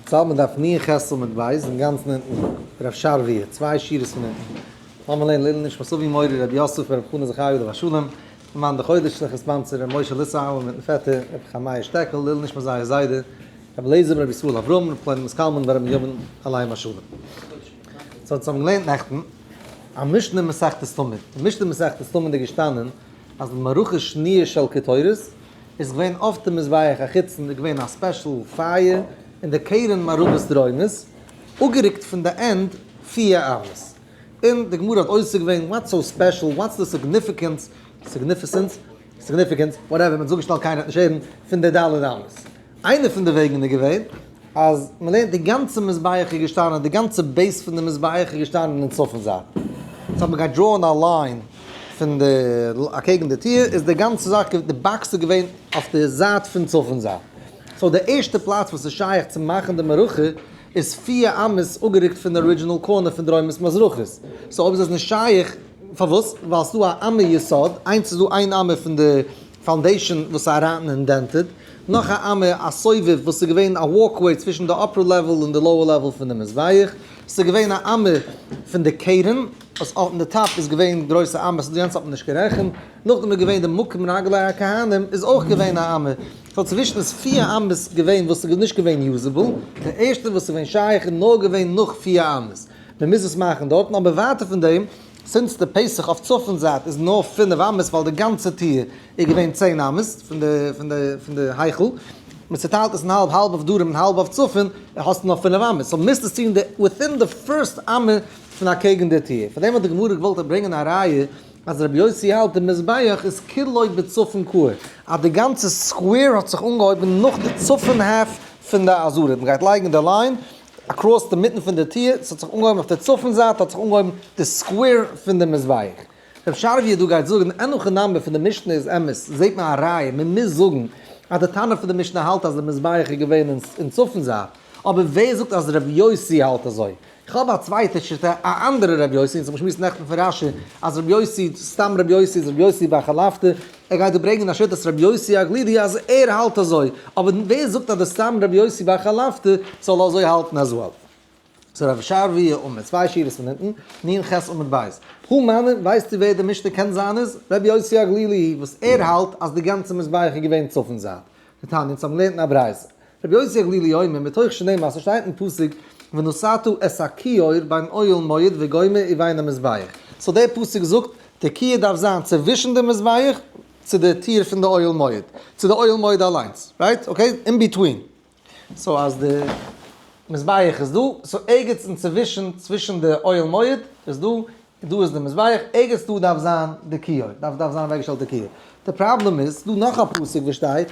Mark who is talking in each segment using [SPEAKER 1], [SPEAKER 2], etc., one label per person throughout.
[SPEAKER 1] סא מ'דארף נ' חסל מיט בית אינגאנצן אונטן, רב שרוויע, צוויי שורות פון אונטן, לאמיר לערנען לעילוי נשמת אבי מורי רבי יוסף רבי חנא זכרי' עליו השלום, פון מאן דחודש שליח הספאנסער רבי משה ליסאהאלער מיטן פעטער רבי חמיה שטעקל, לעילוי נשמת זייער זיידע רבי אליעזר בן רבי ישראל אברהם רב פלוני מסקאלמין בן רבי בנימין עליהם השלום. סא אונז האבן געלערנט נעכטן א משנה אין מסכת תמיד, אין משנה אין מסכת תמיד איז געשטאנען אז מערכה שניה של קטורת איז געווען אויף די מזבח החיצון איז געווען א ספעשל פייער און די קרן מערבית דרומית אפגערוקט פון די ענד פיע אמות און די גמרא האט עוסק געווען וואטס סאו ספעשל וואטס די סיגניפיקענס סיגניפיסענס סיגניפיקענס וואטעווער מען האט זיך אפגעשטעלט קיינער האט נישט הערן פון די ד' אמות איינע פון די וועגן איז געווען אז מען לערנט די גאנצע מזבח איז געשטאנען די גאנצע בעיס פון די מזבח איז געשטאנען אין צפון זייט סאו מען גייט דראען א ליין פון די אקעגן די טיר איז די גאנצע זאך געווען די באקס איז געווען אויף די זייט פון צפון זייט סאו די ערשטע פלאץ וואס איז שייך צו מאכן די מערכה איז פֿיר אמות אפגערוקט פון די ארידזשינעל קארנער פון דרומית מזרחית סאו אויב איז עס נישט שייך פארוואס ווייל ס'איז דא א אמה יסוד איינס איז דא איין אמה פון די. פאונדעישאן וואס איז ראטן און דענטעד, נאך א אמה, א סובב וואס איז געווען א וואלקוועי צווישן די אפער לעוועל און די לאוער לעוועל פון די מזבח, ס'איז געווען א אמה פון די כרם וואס אויפן די טאפ איז געווען גרויסע אמות, די יענץ האט מען נישט גערעכנט, נאכדעם איז געווען די מקום רגלי הכהנים איז אויך געווען א אמה, סאו צווישן איז פיר אמות געווען וואס איז נישט געווען יוזעבל, די ערשטע וואס איז געווען שייך איז נאר געווען נאך פיר אמות, מען מוז עס מאכן דארטן, אבער ווייטער פון דעם. זינט די פסח אויף צפון זייט איז נאר פינף אמות ווייל די גאנצע טיר איז געווען צען אמות פון די פון די פון די היכל, מען צוטיילט עס אין האלב האלב אויף דרום און האלב אויף צפון, האסטו נאר פינף אמות, סאו מוזט עס טון די וויטין די פירסט אמה פון אקעגן די טיר, פאר דעם האט די גמרא געוואלט ברענגען א ראיה אז רבי יוסי האלט די מזבח איז כולו בצפון קוה אז די גאנצע סקווער האט זיך אנגעהויבן נאך די צפון האלף פון די אזור, מען גייט לייגן די ליין. אקראס די מיטן פון די טיר, ס'האט זיך אנגעהויבן אויף די צפון זייט האט זיך אנגעהויבן די סקווער פון די מזבח. רב שרביט דא גייט זאגן די ענליכע נאמבער פון די משנה איז אמת, זעהט מען א ראיה, מען מוז זאגן אז די טענה פון די משנה האלט אז די מזבח איז געווען אין צפון זייט, אבער ווער זאגט אז רב יוסי האלט אזוי? איך האב א צווייטע שיטה א אנדערע רב יוסי, אונז האבן געשמועסט נעכטן פון רשי אז רב יוסי סתם רב יוסי איז רב יוסי ביי חלפתא, ער גייט דא ברענגען א שיטת רבי יוסי הגלילי אז ער האלט אזוי, אבער ווער זאגט אז דער סתם רבי יוסי בר חלפתא זאל אזוי האלטן as well? ס'איז רב שרבי' עמוד צוויי שורות פון אונטן, נין ח עמוד ב'. פרום מאמין, ווייסטו ווער דער משנה קען זיין איז? רבי יוסי הגלילי, וואס ער האלט אז די גאנצע מזבח איז געווען צפון זייט. די תניא, אונז האבן געלערנט אין א ברייתא. רבי יוסי הגלילי אומר, מתוך שני מעשה שטייט אין פסוק ונשאתו את הכיור ביים אוהל מועד וגומר ובין המזבח, סאו דער פסוק זאגט די כיור דארף זיין צווישן די מזבח צו די טיר פון די אוהל מועד, צו די אוהל מועד אליינס, רייט? אקעי? אין ביטווין. סאו אז די מזבח איז דא, סאו ערגעץ אינצווישן צווישן די אוהל מועד איז דא דא איז די מזבח, ערגעץ דא דארף זיין די כיור, דארף דארף זיין אוועקגעשטעלט די כיור, די פראבלעם איז, ס'איז דא נאך א פסוק וואס שטייט,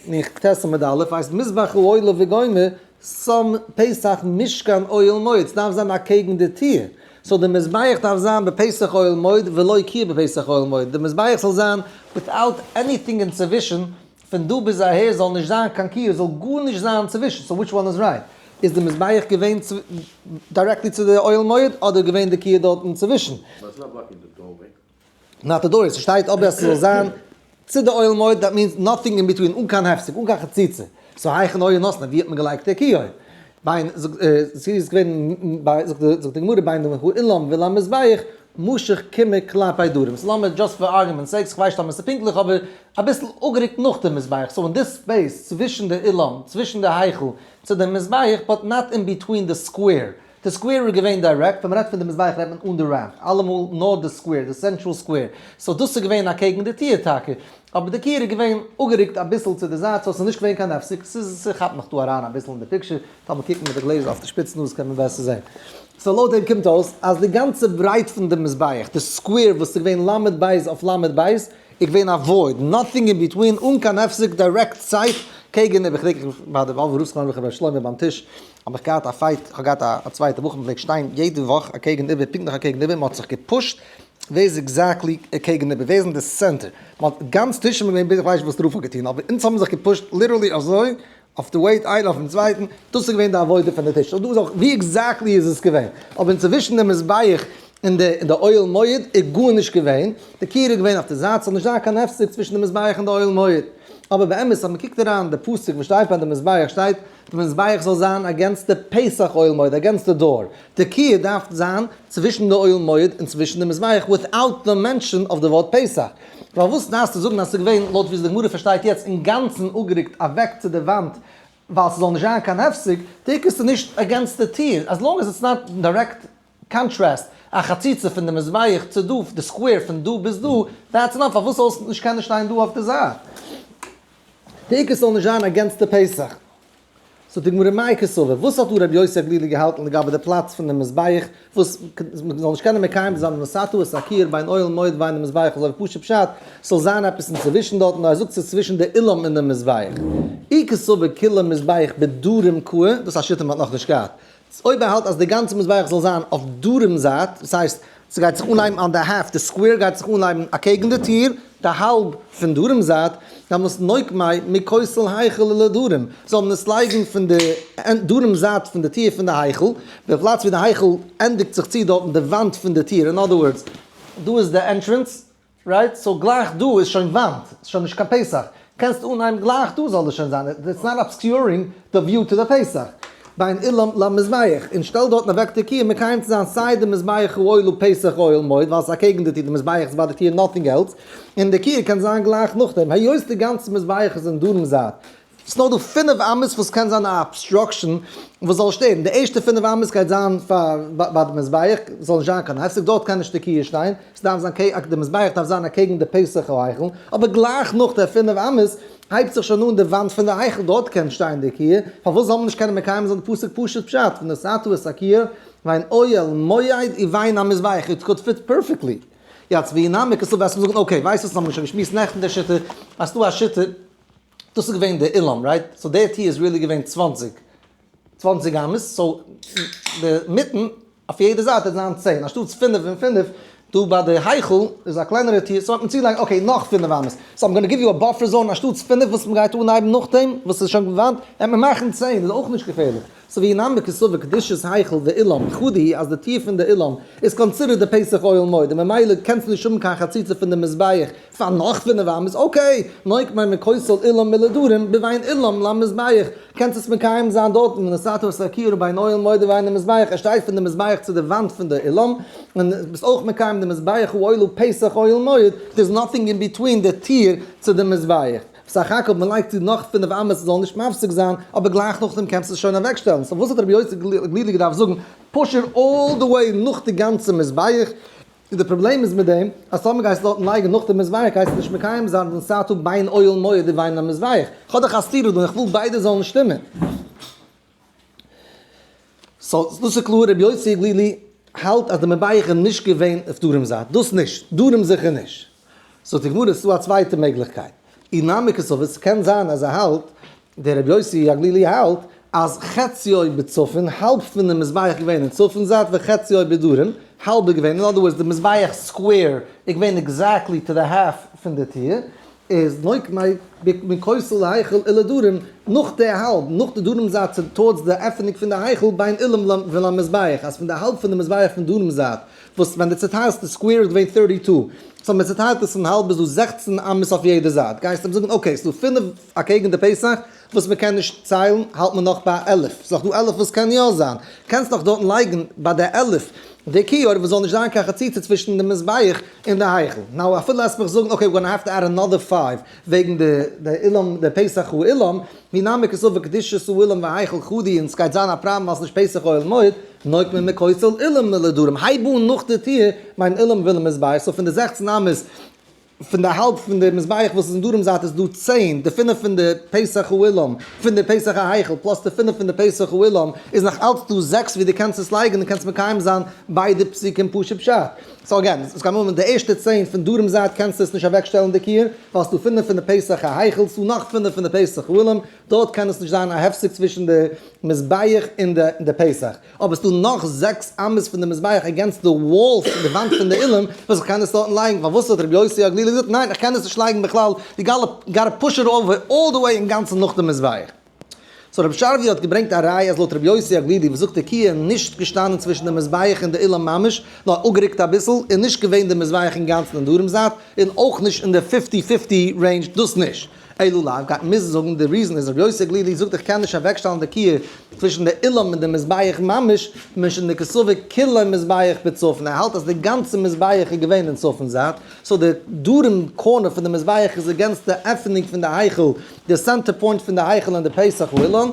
[SPEAKER 1] אין כ ט עמוד א', הייסט מזבח אוהלה וגומר, צום פסח משכן אוהל מועד, ס'דארף זיין אקעגן די טיר, סאו די מזבח דארף זיין בפסח אוהל מועד ולא כיור בפסח אוהל מועד, די מזבח זאל זיין וויטאוט עניטינג אינצווישן פון דא ביז אהער זאל נישט זיין קיין קיו זאל גארנישט זיין צווישן סאו וויטש וואן איז רייט? איז די מזבח געווען דירעקטלי צו די אוהל מועד אדער איז געווען די קיו דארט אינצווישן? וואס איז א
[SPEAKER 2] בלאק אין די דארוועי? נאט א
[SPEAKER 1] דארוועי, ס'שטייט אבער אז ס'זאל זיין צו די אוהל מועד דעט מיענס נאטינג אין ביטווין אן קיין הפסק אן קיין חציצה סאו הייכן אויער נאסנער ווי האט מען געלייגט די קיו אויב ביין זאגט זי איז געווען ביי זאגט די זאגט די גמרא ביין דעם אילן וויל א מזבח משך כמה כלפי דרום סאו לאמיר דזשאסט פאר ארגומענט סעיק כ'ווייס נישט טאמער ס'איז פונקטליך אבער אביסל אפגערוקט נאך דעם מזבח סאו אין די ספעיס צווישן די אילן צווישן די היכל צו דעם מזבח באט נאט אין ביטווין די סקווער די סקווער איז געווען דיירעקט ווען מ'רעדט פון די מזבח רעדט מען אן די רעמפ אלעמאל נאר די סקווער די סענטראל סקווער סאו דאס איז געווען אקעגן די טיר טאקע. אבער די קעיר איז געווען אפגערוקט אביסל צו די זייט סאו ס'איז נישט געווען קיין הפסק, ס'איז ס'כאפט נאך דא אריין אביסל אין די פיקטשער, טאר מען קוקן מיט די גלעזער אויף די שפיץ נאז קען מען בעסער זעהן. סאו לויט דעם קומט אויס אז די גאנצע ברייט פון די מזבח, די סקווער וואס איז געווען ל' בית אויף ל' בית, איז געווען א וואויד, נאטינג אין ביטווין, אן קיין הפסק, דירעקט סייט קעגן איבער, כ'דענק איך ביי די וואלווי רוסלאנד וועלכע ר' שלמה ביים טיש האב איך געהאט א פייט, איך האב געהאט א צווייטע בחור מ'פלעגט שטיין יעדע וואך אקעגן איבער פונקט נאך אקעגן איבער, מ'האט זיך געפושט ווער איז עקזעקטלי איר קעגן איבער? ווער איז אין די סענטער? ווייל גאנץ טישן איז געווען ביז איך ווייס נישט וואס רוב האט געטון, אבער אונז האבן זיך געפושט ליטערלי אזוי אויף די וועיט איינער אויפן צווייטן, דאס איז געווען די עבודה פון די טיש, ווי עקזעקטלי איז עס געווען? אבער אינצווישן די מזבח און די אוהל מועד איז גארנישט געווען, די קיר איז געווען אויף די זייט, ס'זאל נישט זיין קיין הפסק צווישן די מזבח און די אוהל מועד, אבער באמת אז מען קוקט אריין די פסוק וואס שטייט ביי די מזבח שטייט. די מזבח זאל זיין אגענסט די פסח אוהל מועד, אגענסט די דאור, די קוה דארף זיין צווישן די אוהל מועד און צווישן די מזבח וויטאוט די מענשאן אויף די ווארט פסח, פארוואס דארפסטו זאגן אז ס'איז געווען לויט ווי די גמרא פארשטייט יעצט אינגאנצן אפגערוקט אוועק צו די וואנט ווייל ס'זאל נישט זיין קיין הפסק, טאקע ס'איז נישט אגענסט די טיר, עס לאנג עס איטס נאט דירעקט קאנטרעסט, א חציצה פון די מזבח צו דא, די סקווער פון דא ביז דא, דעטס אנאף, פארוואס זאלסט נישט קענען שטיין דא אויף די זייט? די עיקר ס'זאל נישט זיין אגענסט די פסח. זאגט די גמרא מאי קסובה, וואס האט דא רבי יוסי הגלילי געהאלטן לגבי די פלאץ פון די מזבח, וואס מ'זאל נישט קענען מקיים זיין נשאתו את הקיר בין אוהל מועד ובין המזבח אזוי פשוט פשט ס'זאל זיין עפעס אינצווישן דארט, נאר ער זאגט ס'איז צווישן די אילם און די מזבח. אי קסובה כולו מזבח בדרום קוה, דאס א שיטה מ'האט נאכנישט געהאט, ס ה אויב ער האלט אז די גאנצע מזבח זאל זיין אויף דרום זייט, דאס הייסט ס'גייט זיך אנהייבן אן די העלפט, די סקווער גייט זיך אנהייבן אקעגן די טיר, די האלב פון דרום זייט, דאן מוז נוקמי' מכותל היכל אל הדרום, זאל מען עס לייגן פון די דרום זייט פון די טיר פון די היכל, די פלאץ ווי די היכל ענדיגט זיך צו דארטן די וואנט פון די טיר, אין אדער ווארדס, דא איז די ענטרענס, רייט, סאו גלייך דא איז שוין וואנט, ס'איז שוין נישט קיין פסח, קענסט אנהייבן גלייך דא זאל עס שוין זיין, איטס נאט אבסקיורינג די וויו טו די פסח, בין אילם למזבח, און שטעל דארטן אוועק תקיעה מקיים צו זיין סיי די מזבח אויל און פסח אויל מויד, ווייל עס איז אקעגן די טיר, די מזבח איז ביי די טיר נאטינג עלס, און די תקיעה קען זיין גלייך נאכדעם, היות די גאנצע מזבח איז אין דרום זייט, ס'איז נאר דא פינף אמות וואס קען זיין א אבסטראקשען וואס זאל שטערן, די ערשטע פינף אמות גייט זיין פאר ביי די מזבח, ס'זאל נישט זיין קיין הפסק, דארט קען נישט די קיה שטיין, ס'דארף זיין קעגן די מזבח דארף זיין אקעגן די פסח היכל, אבער גלייך נאך די פינף אמות הייבט זיך שוין אן די וואנט פון די היכל, דארט קען שטיין די קיה, פארוואס זאל מען נישט קענען מקיים זיין די פסוק פשוט פשט, ונשאתו את הקיה, ואין אוהל מועד און ואין המזבח, איט קוד פיט פערפעקטלי. יעצט ווי נעם איך עס אפ וועסטו מיר זאגן אקעי ווייסט וואס האבן מיר שוין געשמועסט נעכטן די שיטה, האסטו א שיטה, דאס איז געווען די אילן רייט, סאו דער טיר איז ריעלי געווען צוואַנציק, צוואַנציק אמות, סאו די מיטן אויף יעדע זייט וועט זיין צען, אנשטאטס פינף און פינף, דא ביי די היכל איז א קלענערע טיר, סאו האט מען צוגעלייגט אקעי נאך פינף אמות, סאו איים גאנא גיוו יו א באפער זאון, אנשטאטס פינף וואס מען גייט אנהייבן נאכדעם וואס איז שוין געוואנט, וועט מען מאכן צען, איז אויך נישט געפערליך, סאו ווי נאמר כסבר קדושת היכל די אילן, חד היא אז די טיר פון די אילן איז קאנסידערט די פסח אוהל מועד, און ממילא קענסטו נישט האבן קיין חציצה פון די מזבח, פאר נאך פינף וואם איז אקעי, נאר איך מיין מכוסל אילם מלדרים בוויין אילם למזבח, קענסט עס מקיים זיין דארטן ווען די סאטמאר סקי רבי איז אוהל מועד וויין למזבח, ער שטייט פון די מזבח צו די וואנט פון די אילם, און ביסט אויך מקיים די מזבח הוא אוהלו פסח אוהל מועד, דער איז נאטינג אין ביטווין די טיר צו די מזבח, בסך הכל מען לייגט צו נאך פינף וואם עס זאל נישט מפסיק זיין, אבער גלייך נאכדעם קענסט עס שוין אוועק שטעלן, סאו וואס האט רבי יוסי גלילי געדארפט זאגן פשר אלל די וועי נאך די גאנצע מזבח? און די פראבלעם איז מיט דעם אז טאמער גייסטו דארטן לייגן נאך די מזבח גייסטו נישט מקיים זיין דעם סת ה בין אוהל מועד ובין המזבח, איך האב דאך א סתירה דא און איך וויל ביידע זאלן שטימען. סא דאס איז קלאר רבי יוסי גלילי האלט אז די מזבח איז נישט געווען אויף דרום זייט, דאס נישט, דרום זיכער נישט. זאגט די גמרא עס איז דא א צווייטע מעגליכקייט, אי נמי כסובר, ס'קען זיין אז ער האלט, דער רבי יוסי הגלילי האלט, אז חציו בצפון, האלב פונעם מזבח געווען אין צפון זייט, וחציו בדרום, האלב איז געווען, אין אדער ווארדס די מזבח סקווער איז געווען עקזעקטלי טו די האלף פון די טיר, איז נוהג מאי בין כותל להיכל אל הדרום, נאך די האלב, נאך די דרום זייט צו טארדס די עפענונג פון די היכל בין אילן ולמזבח, אז פון די האלב פון די מזבח פון דרום זייט, וואס ווען די צוטיילסטע סקווער איז געווען טערטי טו, סאו מען צוטיילט עס אין האלב איז דא זעכצן אמות אויף יעדע זייט, גייסט אים זאגן אקעי ס'דא פינף אקעגן די פסח וואס מען קען נישט ציילן, האלט מען נאך ביי א עלף, ס'איז נאך דא עלף וואס קען יא זיין, קענסט נאך דארטן לייגן ביי די עלף די כיור וואס זאל נישט זיין קיין חציצה צווישן די מזבח און די היכל, נאו אפילו לאזט מיך זאגן אקעי ווי גאנא העוו טו עד אנאדער פייוו וועגן די אילום די פסח אילום. מי נמי כסוף וקדושת אוהלים והיכל כבודי און סגייט זיין א פראבלעם ווייל סנישט פסח אוהל מועד, נויגט מען מקוץ אל אילם נלדרים הייב אן נאך די טיר מיין אילם ווילם מזבח סאו פון די זעכצן אמות פון די האלב פון די מזבח וואס איז אין דרום זייט איז דא צען די פינף פון די פסח אוהלים פון די פסח ההיכל פלאס די פינף פון די פסח אוהלים איז נאך אלץ דא זעקס ווי די קענסט עס לייגן און קענסט מקיים זיין ביידע פסוקים פשוט פשט. סאו אגעין, עס קען האבן די ערשטע צען פון דרום זייט קענסטו עס נישט אוועקשטעלן די קיר, ווייל עס איז דא פינף פון די פסח ההיכל, עס איז דא נאך פינף פון די פסח אהלים, דארט קען עס נישט זיין א הפסק צווישן די מזבח און די פסח, אבער עס איז דא נאך זעקס אמות פון די מזבח אגעינסט די וואל פון די וואנט פון די אילן וואס איך קען עס דארטן לייגן, פארוואס האט רבי יוסי הגלילי געזאגט ניין איך קען עס נישט לייגן בכלל, יו גאטא פוש איט אווער אלל די וועי אינגאנצן נאך די מזבח. סאו רבי שרביט האט געברענגט א ראיה אז לויט רבי יוסי הגלילי וואס זאגט עקיע איז נישט געשטאנען צווישן די מזבח און די אולם ממש נאר אפגערוקט אביסל און נישט געווען די מזבח אינגאנצן אין דרום זייט און אויך נישט אין די פיפטי פיפטי רעינדזש דאס נישט אילו לאו גייט מען מוזן זאגן די ריזען איז רבי יוסי הגלילי זאגט איך קען נישט אוועקשטעלן די עקיע צווישן די אולם און די מזבח ממש משום די כסובר כולו מזבח בצפון ער האלט אז די גאנצע מזבח איז געווען אין צפון זייט סאו די דרום קארנער פון די מזבח איז אגענסט די עפענונג פון די היכל די סענטער פוינט פון די היכל אין די פסח אולם,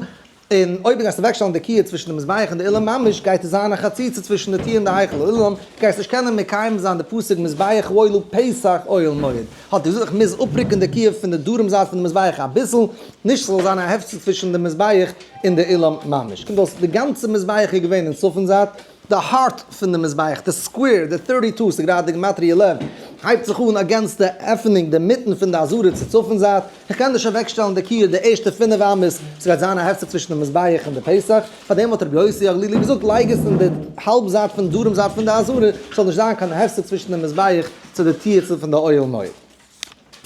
[SPEAKER 1] און אויב דו גייסט אוועקשטעלן די קיר צווישן די מזבח און די אולם ממש, גייט עס זיין א חציצה צווישן די טיר און די היכל אולם, גייסט נישט קענען מקיים זיין די פסוק מזבח וואויל פסח אוהל מועד, האט ער געזאגט איך מוז אפרוקן די קיר פון די דרום זייט פון די מזבח אביסל, נישט ס'זאל זיין א הפסד צווישן די מזבח און די אולם ממש, קומט אויס די גאנצע מזבח איז געווען אין צפון זייט, די הארט פון די מזבח, די סקווער, די טערטי טו, ס'איז גראדע גימטריא עלעווען, הייבט זיך אן אגענסט די עפענונג די מיטן פון די אזור'ע צו צפון זייט, איך קען נישט אוועקשטעלן די קיר די ערשטע פינף אמות, ס'גייט זיין א הפסק צווישן די מזבח און די פסח, פאר דעם האט רבי יוסי הגלילי געזאגט לייג עס אין די האלב זייט פון דרום זייט פון די אזור'ע, ס'זאל נישט זיין קיין הפסק צווישן די מזבח צו די טירצען פון די אוהל מועד.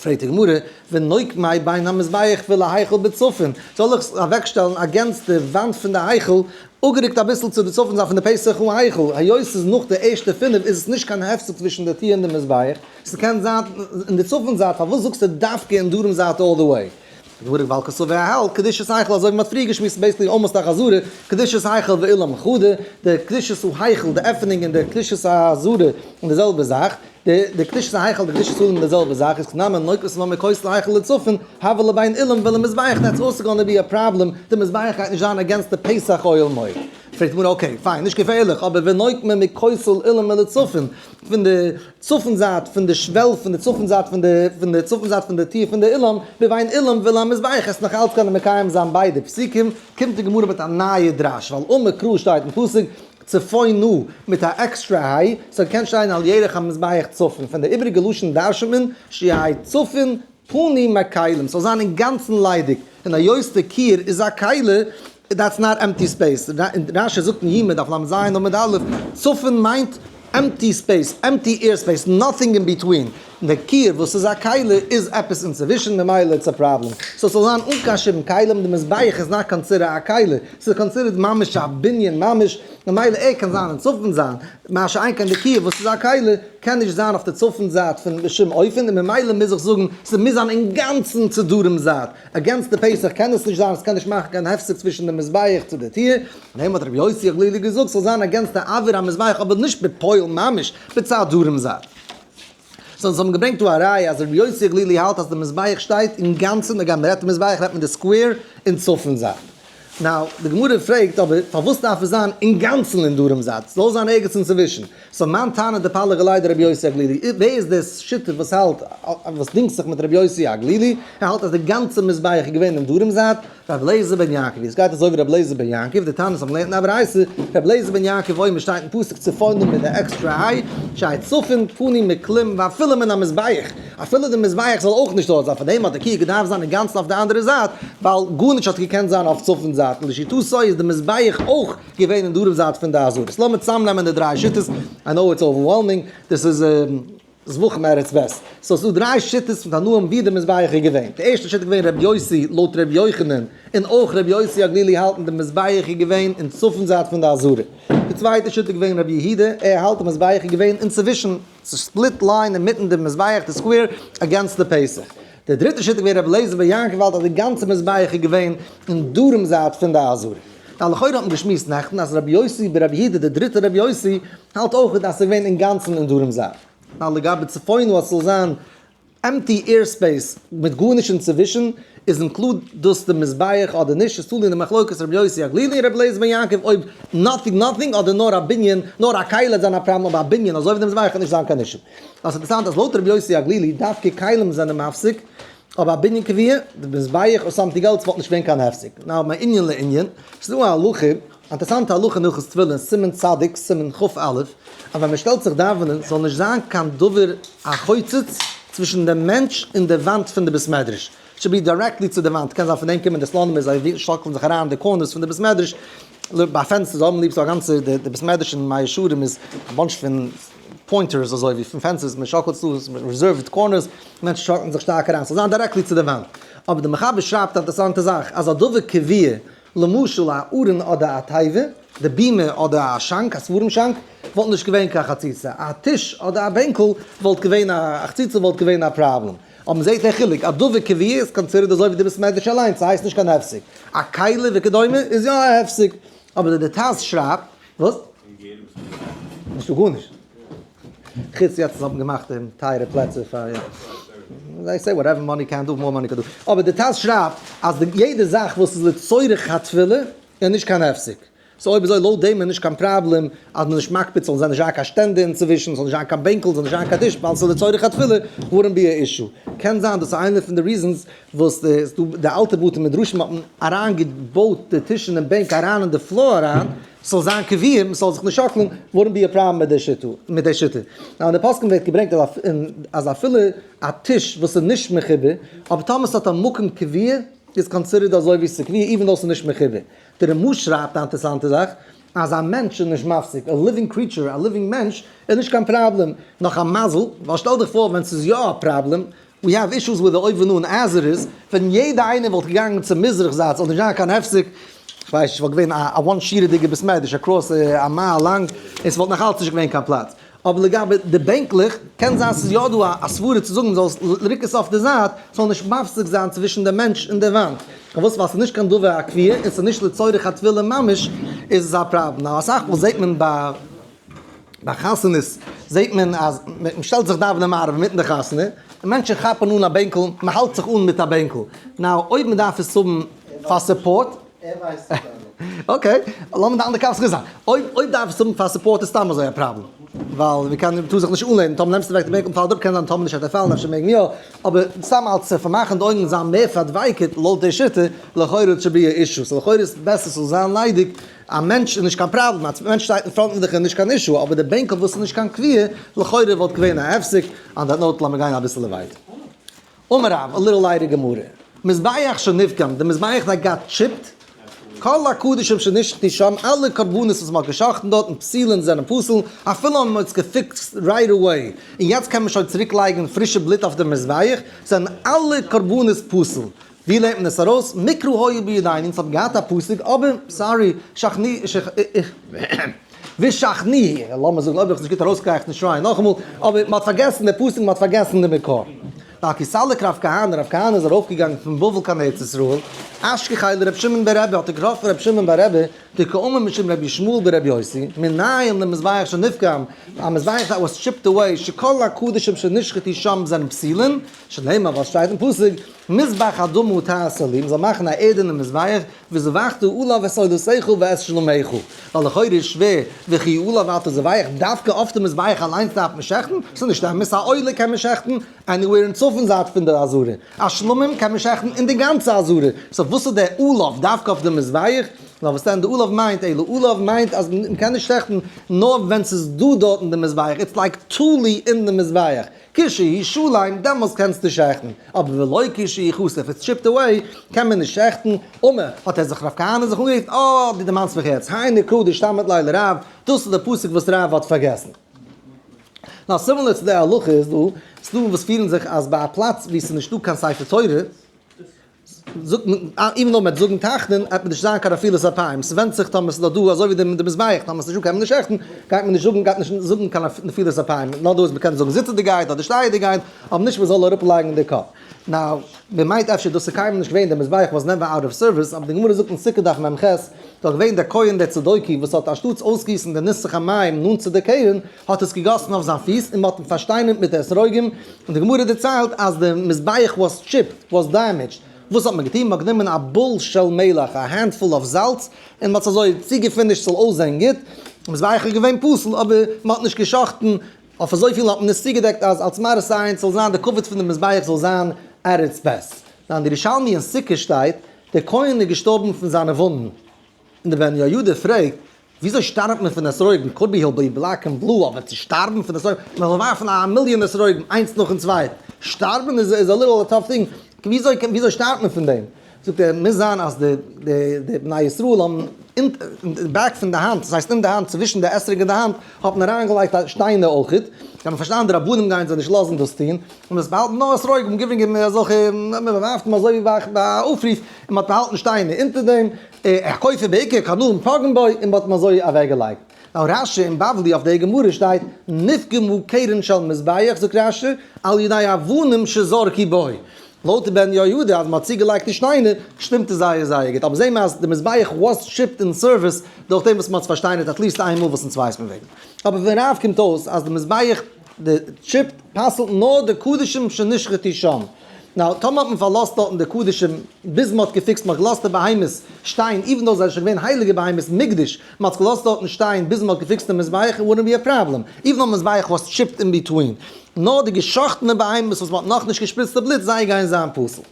[SPEAKER 1] פרעגט די גמרא, ונוק מאי בין המזבח ולהיכל בצפון, זאל איך אוועקשטעלן אגענסט די וואנט פון די היכל, אפגערוקט אביסל צו די צפון זייט פון די פסח און היכל, היות ס'איז נאך די ערשטע פינף איז עס נישט קיין הפסק צווישן די טיר און די מזבח, ס'קען זיין אין די צפון זייט, פארוואס זאגסטו דווקא אין דרום זייט אלל די וועי? דברי בעל קוסובע ע ה, קדושת היכל, אזוי ווי מ'האט פריער געשמועסט בעת די אמות החזרה, קדושת היכל ואילן מחודא, די קדושת ההיכל, די עפענונג און די קדושת החזרה איז די זעלבע זאך, די קדושת ההיכל די קדושת אילן איז די זעלבע זאך, איז כנ מ און לויט וואס מ'האמיר כותל היכל לצפון, הבל לבין אילן ועל המזבח דעטס אלסא גאנע בי א פראבלעם, די מזבח גייט נישט זיין אגענסט די פסח אוהל מועד. פרעגט די גמרא אקעי פיין נישט געפערליך אבער ווען נויט מען מכותל אילן מלצפון פון די. צפון זייט פון די שוועל פון די צפון זייט פון די פון די צפון זייט פון די טיר פון די אולם ווי ביי אן אולם וויל המזבח עס נאך אלץ קענען מקיים זיין ביידע פסוקים קומט די גמרא מיט א נייע דרש ווייל ומקרא שטייט אין פסוק צפונו מיט א עקסטרע היי סאו קען שטיין על ירך המזבח צפון פון די איבריגע לשון דרש'נט מען שיהי' צפון פנים הכלים ס'זאל זיין אינגאנצן ליידיג און היות די קיר איז א כלה דעטס נאט עמפטי ספעיס, רש י זאגט אין יומא דף לז עמוד א', צפון מיינט עמפטי ספעיס, עמפטי עיר ספעיס, נאטינג אין ביטווין, די קיר וואס איז א כלה איז עפעס אינצווישן ממילא איטס א פראבלעם, סאו ס'זאל זיין אן קיין שום כלים, די מזבח איז נאט קאנסידער א כלה, ס'איז קאנסידערט ממש א בנין ממש, ממילא ער קען זיין אין צפון זיין, מה שאין כן די קיר וואס איז א כלה קען נישט זיין אויף די צפון זייט בשום אופן, און ממילא מוז איך זאגן ס'מוז זיין אינגאנצן צו דרום זייט. א גאנצטע פסח קען עס נישט זיין, עס קען נישט מאכן קיין הפסק צווישן די מזבח צו די טיר, און אים האט רבי יוסי הגלילי געזאגט ס'זאל זיין א גאנצטע עבר א מזבח אבער נישט בפועל ממש, בצד דרום זייט. סאו אונז האבן געברענגט דא א ראיה אז רבי יוסי הגלילי האלט אז די מזבח שטייט אינגאנצן, הגם מ'רעדט מזבח רעדט מען די סקווער אין צפון זייט. נאו, די גמרא פרעגט אבער פארוואס דארף עס זיין אינגאנצן אין דרום זייט? זאל זיין ערגעץ אינצווישן. סאו מיין טענה די פאלג אולי די רבי יוסי הגלילי, ווער איז דער שותף וואס האלט וואס דינגט זיך מיט רבי יוסי הגלילי, ער האלט אז די גאנצע מזבח איז געווען אין דרום זייט? ר' אליעזר בן יעקב, יעצט גייט עס אויף ר' אליעזר בן יעקב, די טענות האט מען געלערנט אין א ברייתא, ר' אליעזר בן יעקב אוי מען שטייט אין פסוק צפוניים מיט די עקסטרע איי, שייט צפון פנים מקלים ואפילו מן המזבח. אפילו די מזבח זאל אויך נישט דארט זיין, פאר דעם האט די קוה געדארפט זיין אינגאנצן אויף די אנדערע זייט, ווייל גארנישט האט געקענט זיין אויף צפון זייט, לשיטתו איז די מזבח אויך געווען אין דרום זייט פון די אזורית. לאמיר צוזאמנעמען די דריי שיטות, איי נאו איטס אווערוועלמינג, דאס איז זבחים ארץ וועסט. סאו ס'איז דא דריי שיטות פון תנאים ווי די מזבח איז געווען. די ערשטע שיטה איז געווען רבי יוסי לויט רבי יוחנן, און אויך רבי יוסי הגלילי האלטן די מזבח איז געווען אין צפון זייט פון די אזורית. די צווייטע שיטה איז געווען רבי יהודה, ער האלט די מזבח איז געווען אינצווישן. צו ספליט לעין אינמיטן די מזבח די סקווער אגענסט די פעיסער. די דריטע שיטה געווען רבי אליעזר בן יעקב האלט אז די גאנצע מזבח איז געווען אין דרום זייט פון די אזורים. די לכאורה האט מען געשמועסט נעכטן אז רבי יוסי בן רבי יהודה די דריטע רבי יוסי האלט אויך אז ס'איז געווען אינגאנצן אין דרום זייט. ווייל לגבי צפון וואס ס'זאל זיין. עמפטי עיר ספעיס מיט גארנישט אינצווישן, איז אינקלוד דאס די מזבח אדער נישט? איז תלוי אין די מחלוקת רבי יוסי הגלילי און רבי לייזער בן יעקב אויב נאטינג נאטינג אדער נאר א בנין נאר א כלה האט זיין א פראבלעם אבער א בנין אזוי ווי די מזבח האט נישט זיין קיין אישו. אבער ס'איז אינטערסאנט אז לויט רבי יוסי הגלילי דווקא כלים זענען מפסיק אבער א בנין קביעה, די מזבח און סאמטינג עלס וואלט נישט געווען קיין הפסק. נאו מעין ענין לענין, ס'איז דא א הלכה. א אינטערעסאנטע הלכה אין הלכות תפילין, סימן צדיק, סימן כ א, אז ווען מען שטעלט זיך דאווענען זאל נישט זיין קיין דבר החוצץ צווישן דעם מענטש און די וואנט פון די בית מדרש, שוד בי דיירעקטלי צו די וואנט, קען זיין פון דעם קומען די סלאנים און זיי שאקלן זיך אריין אין די קארנערס פון די בית מדרש, ביי פענסטערס זיי האבן ליב סאו א גאנצע די בית מדרש אין מאה שערים איז א באנטש פון פוינטערס אזוי ווי פון פענסעס מען שאקלט צו עס איז ריזערווד קארנערס, מענטשן שאקלן זיך שטארק אריין, ס'זאל זיין דיירעקטלי צו די וואנט, אבער די מחבר שרייבט א אינטערעסאנטע זאך אז א דבר קביעה. למשל א ארון אדער א תיבה, די בימה אדער א שאנק, א ספרים שאנק, וואלט נישט געווען קיין חציצה, א טיש אדער א בענקל וואלט געווען א חציצה וואלט געווען א פראבלעם, אבער מען זעט דער חילוק, א דבר קביעה איז קאנסידערט אזוי ווי די בית מדרש אליינס, ס'הייסט נישט קיין הפסק, א כלה וכדומה איז יא א הפסק, אבער די די טז שרייבט, וואס? און גער וואס איז די טענה? נישטא גארנישט. חוץ יעצט האבן געמאכט אין טייערע פלעצער פאר יא זיי סעי וואטעווער מאני קען דא מאר מאני קען דא אבער די טז שרייבט אז די יעדע זאך וואס איז לצורך התפלה איז נישט קיין הפסק סאו אויב אזוי לויט דעם איז נישט קיין פראבלעם אז מען איז נישט מקפיד ס'זאל נישט זיין נישט זיין קיין שטענדע אינצווישן ס'זאל נישט זיין קיין בענקל ס'זאל נישט זיין קיין טיש ווייל ס'איז לצורך התפלה וואלדנט בי א אישו קען זיין דאס איז איינע פון די ריזענס וואס די די אלטע בתי מדרשים האבן אריינגעבויט די טישן און בענק אריין אין די פלאר אריין. ס'זאל זיין קביעות, מ'זאל זיך נישט שאקלען, וואודנט בי ער פראבלעם מיט די שיטה. אין די פוסקים ווערט געברענגט אז אפילו א טיש וואס איז נישט מחובר, אבער טאמער ס'האט א מקום קביע, איז קאנסידערט אזוי ווי ס'איז קביע איווען דאו ס'איז נישט מחובר. די רמא שרייבט א אינטערעסאנטע זאך, אז א מענטש איז נישט מפסיק, א ליווינג קריעטשור, א ליווינג מענטש, איז נישט קיין פראבלעם, נאך א מזל, ווייל שטעל דיך פאר ווען ס'איז יא א פראבלעם, ווי האב אישוס וויט די אויבן אן עזר איז ווען יעדע איינער וואלט געגאנגען צום מזרח זייט זאל נישט זיין קיין הפסק איך ווייס נישט וואלט געווען א וואן שירעדיגע בית מדרש אקראס א מייל לאנג און ס'וואלט נאך אלץ נישט געווען קיין פלאץ אבער לגבי די בענקלעך קען זיין ס'איז יא דא א סברה צו זאגן מ'זאל עס ריקן אויף די זייט ס'זאל נישט מפסיק זיין צווישן די מענטש און די וואנט פארוואס ווייל ס'איז נישט קיין דבר הכפייה און ס'איז נישט לצורך הטבילה ממש איז עס א פראבלעם נאר אסאך מאל זעט מען ביי ביי חתונות זעט מען אז מען שטעלט זיך דאווענען מעריב אינמיטן די חתונה, און מענטשן כאפן אן א בענקל, מען האלט זיך אן מיט א בענקל, נאו אויב מען דארף עס האבן פאר סופארט,
[SPEAKER 2] אקעי,
[SPEAKER 1] לאמיר די אנדערע קאפסקעס זיין, אויב דארף עס האבן פאר סופארט איז סתם אזוי א פראבלעם, ווייל מען קען טאר זיך נישט אנלענען, טאמער נעמסטו אוועק די בענקל פאלט אפ, קען זיין טאמער נישט וועט ער פאלן, אפשר מעגן יא, אבער סתם אלץ צו פארמאכן די אויגן און זיין מער פארדווייקערט לויט די שיטה, לכאורה איט שוד בי אן אישו, סאו לכאורה איז עס בעסער ס'זאל זיין ליידיג, א מענטש איז נישט קיין פראבלעם, א מענטש שטייט אין פראנט פון דיך איז נישט קיין אישו, אבער די בענקל וואס איז נישט קיין קביעה, לכאורה וואלט געווען א הפסק, אן דעט נאוט לאמיר גיין אביסעלע ווייטער. אמר רב, א ליטעל לייטער גמרא, מזבח שנפגם, די מזבח דארט גייט טשיפט, כל הקדשים שנשחטו שם, אלע קרבנות וואס מ'האט גע'שחט'ן דארט און פסילין זענען פסול, אפילו אז מ'האט עס געפיקסט רייט עוועי, און יעצט קען מען שוין צוריק לייגן פרישע בלוט אויף די מזבח, זענען אלע קרבנות פסול. ווי לערנט מען עס ארויס? מקרא היו בידיינים, ס'האט געהאט א פסוק, אבער, סארי, שכני, ושכני הי', לאמיר זאגן, אויב איך עס נישט גוט ארויסגייעך נישט שרייען נאכאמאל, אבער מ'האט פארגעסן די פסוק, מ'האט פארגעסן די מקור. אקעי, סאליק רב כהנא, רב כהנא איז ארויפגעגאנגען פון בבל קיין ארץ ישראל, אשכחי לר' שמעון בר רבי, האט ער געטראפן ר' שמעון בר רבי, די קאומא משום רבי ישמעאל בר רבי יוסי, מנין למזבח שנפגם, א מזבח דעט וואס טשיפד אוועי, שכל הקדשים שנשחטו שם זענען פסולין, שנאמר וואס שטייט אין פסוק, מזבח אדמה תעשה לי, מ'זאל מאכן א ערדענע מזבח, וזבחת עליו את סעודותיך ואת שלומיך, ווייל לכאורה איז שווער, וכי עליו אל תזבח, דווקא אויף די מזבח אליינס דארף מען שעכטן? ס'איז נישט אמת, א עולה קען מען שעכטן עניוועיר אין צפון זייט פון די עזרה, א שלמים קען מען שעכטן אין די גאנצע עזרה, סאו וואס איז דער עליו דווקא אויף די מזבח? נאר וואס דען די עליו מיינט, אלא עליו מיינט אז מ'קען נישט שעכטן נאר ווען ס'איז דא דארטן די מזבח, איטס לייק תלוי אין די מזבח. כשהיא שוליים, דעמאלס קענסטו שעכטן, אבער ולא כשהיא חסר, אויב עס טשיפט אוועי, קען מען נישט שעכטן, אמער, האט ער זיך ר' כהנא זיך אנגעקוקט, אה, דו דערמאנסט מיך יעצט, היי נקרא די שטאמט לילה רב, דאס איז די פסוק וואס רבא האט פארגעסן. נאר סימילער צו די הלכה איז דא, ס'דא וואס פירן זיך אז ביי א פלאץ וואו ס'איז נישטא קיין ספר תורה, זאגט מען איבן נאר מ'עט זאגן תחנון עט מען נישט זיין קיין אפילו ס'איז א פיים ס'ווענדט זיך טאמער ס'איז דאך דא אזוי ווי די מזבח טאמער ס'איז נישט דא קען מען נישט שעכטן גייט מען נישט זאגן גייט נישט זאגן קיין נפילת אפיים נאר דא איז מ'קען זאגן זיצעדיגייט אדער שטייעדיגייט אבער נישט מ'זאל אראפ לייגן די קאפ נאו מ'מיינט אפשר דאס איז קיינמאל נישט געווען די מזבח וואס נעווער אוט אוו סערוויס אבער די גמרא זאגט אין סוכה דף מ ח איז דאך געווען דער כהן דער צדוקי וואס האט אנשטאטס אויסגיסן די נוסח המים נאנט צו די קרן האט עס געגאסן אויף זיין פיס און מען האט אים פארשטיינערט מיט אתרוגים, און די גמרא דערציילט אז די מזבח וואס טשיפד, וואס דעמעדזשד, וואס האט מען געטון? מען האט גענומען א בול של מלח, א הענד פול אויף זאלץ, און מען האט עס אזוי צוגעפינישט ס'זאל אויסזען גוט, די מזבח איז געווען פסול אבער מען האט נישט גע'שחט'ן, אויף אזויפיל האט מען עס צוגעדעקט אז אלס מראית עין ס'זאל זיין די כבוד פון די מזבח זאל זיין ערץ בית. אין די ירושלמי אין סוכה שטייט, דער כהן איז געשטארבן פון זיינע וואונדן. און דער בן יהוידע פרעגט, וויאזוי שטארבט מען פון אתרוגים, קאוד בי היל בי בלעק ענד בלו, אבער צו שטארבן פון אתרוגים, מען זאל ווארפן א מיליאן אתרוגים איינס נאכן צווייטן, שטארבן איז איז א ליטעל א טאף טינג, וויאזוי וויאזוי שטארבט מען פון דעם? זאגט ער, מוז זיין אז די די די בני ישראל האבן אין די בעק פון די האנט, דאס הייסט אין די האנט, צווישן די אתרוג און די האנט, האט מען אריין געלייגט א שטיינער אויך, זיי האבן פארשטאנען די רבנים גייען זיי נישט לאזן דאס טון, און עס באהאלטן נאר אתרוגים, גיווען גיווען אזעלכע, מען ווארפט אים אזוי ווי ביי ביי א אויפרוף. און מ'האט באהאלטן שטיינער אונטער דעם הקופה בעיקר קנאים פגעו בו און מ'האט אים אזוי אוועקגעלייגט. נאר רש י און בבלי אויף די גמרא שטייט נפגמו קרן של מזבח זאגט רש י על ידי אבנים שזרקו בו. לויט בן יהוידע אז מ'האט צוגעלייגט די שטיינער שטימט עס זייער זייער גוט אבער זעהן מיר אז די מזבח וואס טשיפט אין סערוויס דורך דעם וואס מ'האט עס פארשטיינערט עטליעסט איין מאל וואס אין צווייסט מען וועגן אבער פון רב קומט אויס אז די מזבח די טשיפ פסל'ט נאר די קדישים שנשחטו שם. נאו, טאמער האט מען פארלאזט דארטן די קדישים ביז מען האט געפיקסט מען האט געלאזט די בהמות שטיין איווען דאו זיי זענען שוין געווען הייליגע בהמות מקדש מען האט עס געלאזט דארטן שטיין ביז מען האט געפיקסט די מזבח איט וואלדנט בי א פראבלעם איווען נאר מזבח וואס טשיפט אין ביטווין נאר די געשאכטענע בהמות וואס מען האט נאכנישט געשפריצט די בלוט זיי גייען זיין פסול.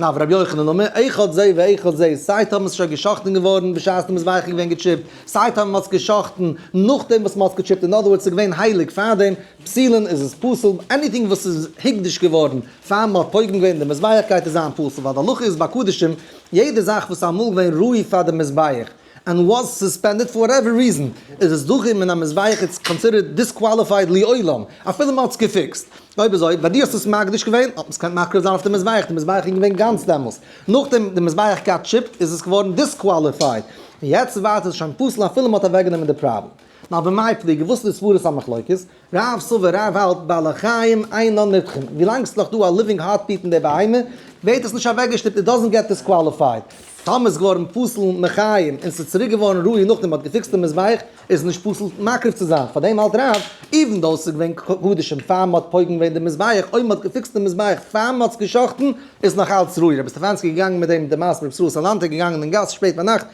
[SPEAKER 1] נאר רבי יוחנן נאר מער איכות זה ואיכות זה, סיי טאמער ס'איז שוין גע'שחט'ן געווארן בשעת מ'איז ווייכע געווען געטשיפט, סיי טאמער מ'האט עס גע'שחט'ן נאכדעם וואס מ'האט עס געטשיפט, אין אדער ווארדס ס'איז געווען הייליג פארדעם, פסילין איז עס פסול, עניטינג וואס איז הוקדש געווארן פאר מ'האט פוגם געווען אין די מזבח גייט עס זיין פסול, ווייל די הלכה איז ביי קדשים, יעדע זאך וואס איז אמאל געווען ראוי פאר די מזבח, ענד וואס סוספענדעד פאר וואטעווער ריזען איז עס דוחה מן המזבח איטס קאנסידערט דיסקוואליפייד לעולם אפילו מען האט עס געפיקסט. אויב אזוי ביי דיר האסטו עס מקדיש געווען האט מען עס געקענט מקריב זיין אויף די מזבח די מזבח איז געווען גאנץ דעמאלס נאכדעם די מזבח גאט טשיפט איז עס געווארן דיסקוואליפייד פון יעצט ווייטער איז עס שוין פסול אפילו מען האט אוועקגענומען די פראבלעם. נאר במאי פליגי וואס איז די סברות המחלוקת? רוב סאווער רב האלט ביי לחיים איין נאן נתחם, ווילאנג ס'איז נאך דא א ליווינג הארט ביט אין די בהמה ווערט עס נישט אוועקגעשטופט, איט דאזענט געט דיסקוואליפייד, טאמער ס'איז געווארן פסול מחיים און ס'איז צוריק געווארן ראוי נאכדעם מ'האט געפיקסט די מזבח, איז עס נישט פסול מקריב צו זיין, פארדעם האלט רוב איווען דאו ס'איז געווען קדשים פאר מ'האט פוגם געווען די מזבח, אויב מ'האט געפיקסט די מזבח פאר מ'האט עס גע'שחט'ן איז נאך אלץ ראוי, רבי סטעפאנסקי איז געגאנגען מיט דעם, דער מעשה רבי ישראל סאלאנטער געגאנגען אין גאס שפעט ביינאכט,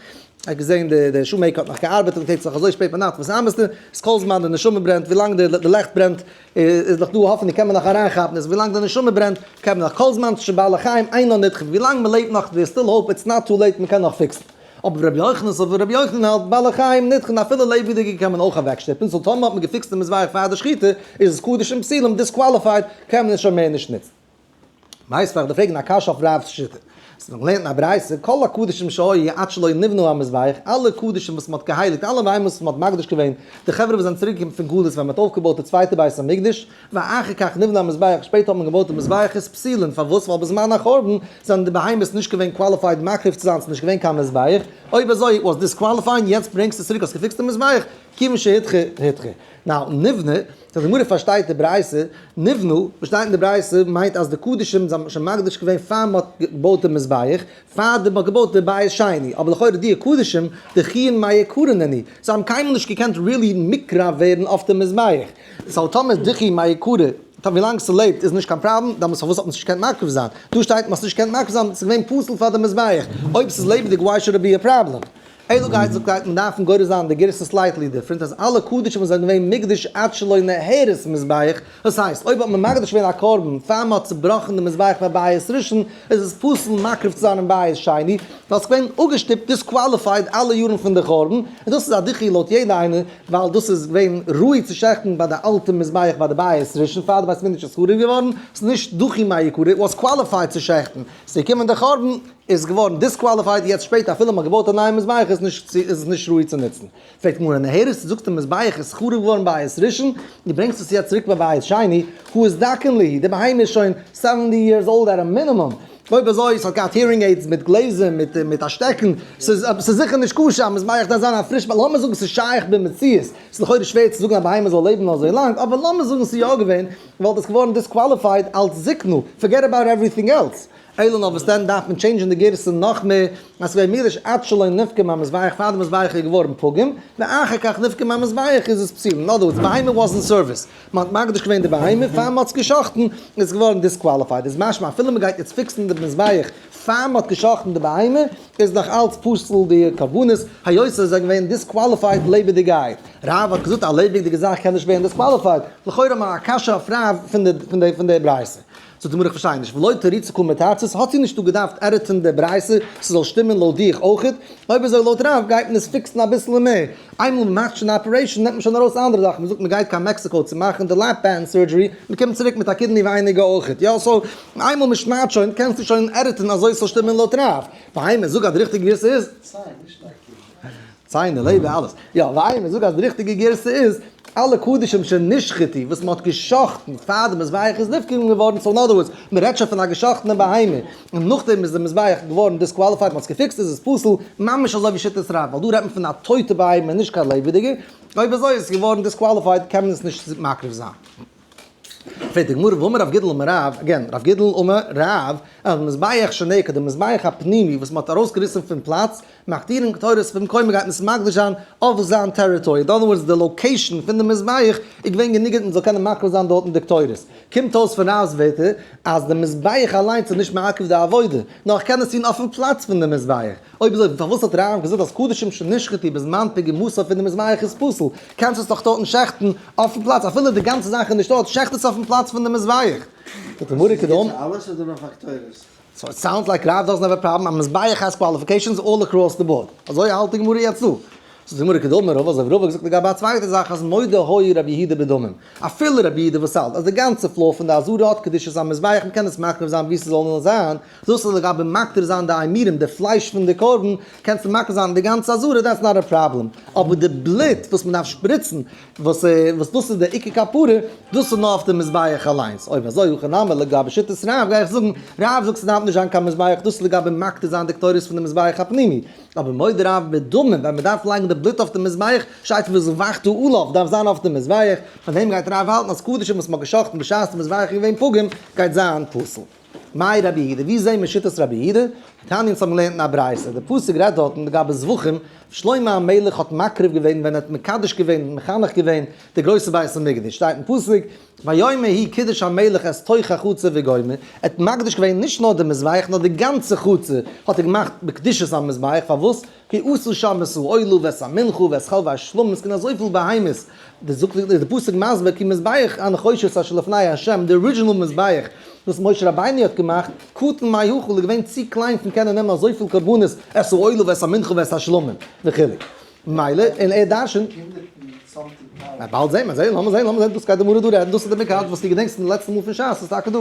[SPEAKER 1] האט געזען די די שו מעקער האט נאך געארבעט און פלעצלעך אזוי שפעט ביינאכט וואס ארבעסטו? איז כל זמן די נשמה ברענט ווילאנג די די לעכט ברענט איז דאך דא האפענונג קען מען נאך אריינכאפן איז ווילאנג די נשמה ברענט קען מען נאך כל זמן שבא לחיים אינו נדחה ווילאנג מען לעבט נאך דער סטיל האופ איטס נאט טו לעיט מען קען נאך פיקסן אבער ווי רבי יוחנן סובר רבי יוחנן האלט בא לחיים נדחן אפילו לעבעדיגע קען מען אויך אוועקשטופן סאו טאמער האט מען געפיקסט די מזבח פאר די שחיטה איז עס קדוש און פסול און דיסקוואליפייד קען מען עס שוין מער נישט נוצן. ווייסט פאר די פרעגן א קשיא אויף רב'ס שיטה. ס'איז דאך געלערנט אין א ברייתא כל הקדשים שהיו עד שלא נבנו המזבח אלע קדשים וואס מ'האט געהייליגט אלע בהמות וואס מ'האט מקדיש געווען די חברה וואס זענען צוריק געקומען פון גלות ווען מ'האט אויפגעבויט די צווייטע בית המקדש ואחר כך נבנה המזבח שפעטער האט מען געבויט די מזבח איז פסולין פארוואס ווייל בזמן החורבן זענען די בהמות נישט געווען קוואליפייד מקריב צו זיין ס'איז נישט געווען קיין מזבח אויב אזוי וואס דיסקוואליפייען יעצט ברענגסטו עס צוריק האסט געפיקסט די מזבח כיוון שהיתכן היתכן. נאו, נבנה, סא די גמרא פארשטייט די ברייתא, נבנו, וואס שטייט אין די ברייתא מיינט אז די קדשים זיי האבן שוין מקדיש געווען פאר מען האט געבויט די מזבח, פאר מען האט געבויט די בית שני, אבער לכאורה דיע קדשים דכיען מאי יקרינן היא, זיי האבן קיינמאל נישט געקענט ריעלי מקרב ווערן אויף די מזבח, סאו טאמער איז דכיען מאי יקרה, טא ווילאנג ס'לעבט איז נישט קיין פראבלעם, דעמאלטס פארוואס האט מען עס נישט געקענט מקריב זיין? דא שטייט מען האט עס נישט געקענט מקריב זיין ווייל ס'איז געווען פסול פאר די מזבח, אויב ס'איז לעבעדיג וואי שוד איט בי א פראבלעם? אילו גייסטליכקייטן דארפן גורס זיין די גירסא סלייטלי דיפרענט אז אלע קדשים וואס זענען געווען מוקדש עד שלא נהרס מזבח, דאס הייסט אויב האט מען מקדש געווען א קרבן פאר מען האט צובראכן די מזבח פאר בית ראשון איז עס פסול מקריב צו זיין אין בית שני ווייל עס איז געווען אפגעשטופט, דיסקוואליפייד, אלע יארן פון די חורבן, און דאס איז א דחי לויט יעדע איינער ווייל דאס איז געווען ראוי צו שעכטן ביי די אלטע מזבח ביי די בית ראשון פאר די בית מקדש איז חרוב געווארן, ס'איז נישט דחי מהעיקרא, איט וואס קוואליפייד צו שעכטן, ס'איז געקומען די חורבן. איז געווארן דיסקוואליפייד יעצט שפעטער אפילו מ'האט געבויט א נייע מזבח איז עס נישט צו איז עס נישט ראוי צו נוצן פרעגט מוהרא ן הערסט זאגט די מזבח איז חרוב געווארן בית ראשון דו ברענגסט עס יעצט צוריק ביי בית שני הוא איז דקן ליהי די בהמה איז שוין סעווענטי יערס אולד עט א מינימום אויב אזוי עס האט געהאט הירינג עידס מיט גלעזער מיט מיט א שטעקן ס'איז ס'איז זיכער נישט כשר א מזבח דארף זיין א פריש ביי לאמיר זאגן ס'איז שייך במציאות ס'איז לכאורה שווער צו זאגן א בהמה זאל לעבן אזוי לאנג אבער לאמיר זאגן ס'איז יא געווען וואלט עס געווארן דיסקוואליפייד אלץ זקנו פארגעט אבאוט עוועריטינג עלס. אלא נאר וואס דען דארף מען טשעינדזשען די גירסא נאך מער, אז כ'ווער מרעיש עד שלא נפגע מהמזבח פאר די מזבח איז געווארן פוגם, ואחר כך נפגע מהמזבח איז עס פסול, אין אדער ווארדס בהמה וואס אין סערוויס, מען האט מקדיש געווען די בהמה פאר מען האט עס גע'שחט'ן, איז עס געווארן דיסקוואליפייד, איז משמע אפילו מען גייט יעצט פיקסן די מזבח פאר מען האט גע'שחט'ן די בהמה, איז נאך אלץ פסול די קרבנות, היות עס איז געווען דיסקוואליפייד לעבעדיגייט. רב האט געזאגט א לעבעדיגע זאך קען נישט ווערן דיסקוואליפייד, לכאורה א קשיא אויף רב פון די פון די פון די ברייתא. זאגט די גמרא איך פארשטיי נישט ולא תריץ קום מתרצת האט זי נישטא געדארפט עדיטען די ברייתא ס'זאל שטימען לויט דיך אויך? אויב איז ער לויט רב גייט מען עס פיקסן אביסל מער, איינמאל מ'מאכט שוין די אפערעישאן נעמט מען שוין ארויס אנדערע זאכן, מ'זאגט מ'גייט קיין מעקסיקאו צו מאכן די לעפ בענד סורדזשערי מ'קומט צוריק מיט א קידני ווייניגער אויך, יא סאו איינמאל מ'שניידט שוין קענסטו שוין עדיטען אזוי ס'זאל שטימען לויט רב, והיינו זאג אז די ריכטיגע גרסה איז. ציינער, לעבער, אלעס. יא, וויימער זאגט אז די ריכטיגע גרסה איז, אלע קדשים שנשחטו וואס מען האט גע'שחט'ן פאר די מזבח איז נפגעים געווארן, סאו אין אדער ווארדס, מען רעדט שוין פון א גע'שחט'נע בהמה, און נאכדעם איז די מזבח געווארן דיסקוואליפייד, מען האט עס געפיקסט איז עס פסול, ממש אזוי ווי שיטת רב, ווייל דא רעדט מען פון א טויטע בהמה נישט קיין לעבעדיגע, אויב אזוי איז עס געווארן דיסקוואליפייד קען מען עס נישט מקריב זיין. פרעגט די גמרא ואמר רב גידל אמר רב, אגעין, רב גידל אמר רב, אז די מזבח שנעקד, די מזבח הפנימי וואס מ'האט ארויסגעריסן פון פלאץ, מ'הקטירן קטורת פון מקום, מ'גייט עס מקדיש זיין אויף זיין טעריטארי, אדער וואס די לאקעישן פון די מזבח איז געווען גענוג מ'זאל קענען מקריב זיין דארטן די קטורת. קומט אויס פון רב'ס ווערטער אז די מזבח אליינס איז נישט מעכב די עבודה, נאר איך קען עס טון אויפן פלאץ פון די מזבח. אויב אזוי פארוואס האט רמב ם געזאגט אז קדשים שנשחטו בזמן פגע מוסף פון די מזבח איז פסול? קענסט עס דאך טויטן שעכטן אויפן פלאץ אפילו די גאנצע זאך איז נישט טויט שעכט עס אויפן פלאץ פון די מזבח. זאגט די גמרא קדמ. איז עס גוט פאר אלעס אדער
[SPEAKER 2] נאר פאר קטורת? סאו איט סאונדס לייק
[SPEAKER 1] רב דאזענט העוו א פראבלעם אז מזבח האס קוואליפיקעישאנס אלל עקראס די באורד. אזוי האלט די גמרא יעצט דא. זאגט די גמרא קדמ. רב אזוי ווי רב האט געזאגט לגבי א צווייטע זאך אז מודה הוי רבי יהודה בדמים. אפילו רבי יהודה וואס האלט אז די גאנצע פלאו פון די אזהרה האט קדושת המזבח מקען עס מחריב זיין ווי סזאל נאר זיין. זאלסטו לגבי מקריב זיין די עמירם, די פלייש פון די קרבן, קענסטו מקריב זיין די גאנצע עזרה, דעטס נאט א פראבלעם, אבער די בלוט וואס מען דארף שפריצן, וואס וואס דאס איז די עיקר כפרה, דאס איז נאר אויף די מזבח אליינס, אויב אזוי הכי נמי לגבי שיטת רב, גיי איך זאגן, רב זאגט ס'דארף נישט זיין קיין מזבח, דאס איז לגבי מקטיר זיין די קטורת פון די מזבח הפנימי, אבער מודה רב בדמים, ווען מען דארף לייגן די בלוט אויף די מזבח, שטייט וואס ואכט העולב דארף זיין אויף די מזבח, פון דעם גייט רב האלטן אז קדשים וואס מען האט גע'שחט'ן בשעת די מזבח איז געווען פגום, גייט זיין פסול. מאי רבי יהודה, ווי זעהן מיר שיטת רבי יהודה? תניא אונז האבן געלערנט אין א ברייתא, די פסוק רעדט דארטן לגבי זבחים, שלמה המלך האט מקריב געווען ווען ער האט מקדש געווען און מחנך געווען די גרויסע בית המקדש, שטייט אין פסוק, ויאמר ה' קידוש המלך את תוך החצר וגומר, ער האט מקדש געווען נישט נאר די מזבח נאר די גאנצע חצר האט ער געמאכט בקדושת המזבח, פארוואס? כי עשו שם את האוהלו ואת המנחה ואת כל והשלום, עס קען אזויפיל בהמות, די זאגט ווי די פסוק מסביר כי מזבח הנחושת אשר לפני ה', די ארידזשינעל מזבח וואס משה רבינו האט געמאכט, קטן מהיכול, איז געווען צו קליין פון קענען נעמען אזויפיל קרבנות, את האוהלו ואת המנחה ואת השלום וכו', מילא, און ער דרשנ'ט. באלד זעהן מיר, זעה, לאמיר זעהן, לאמיר זעהן, דאס גייט די גמרא דא רעדן, דאס איז די מקח וואס דו געדענקסט פון די לעצטע מאל פון שס, איז טאקע דא.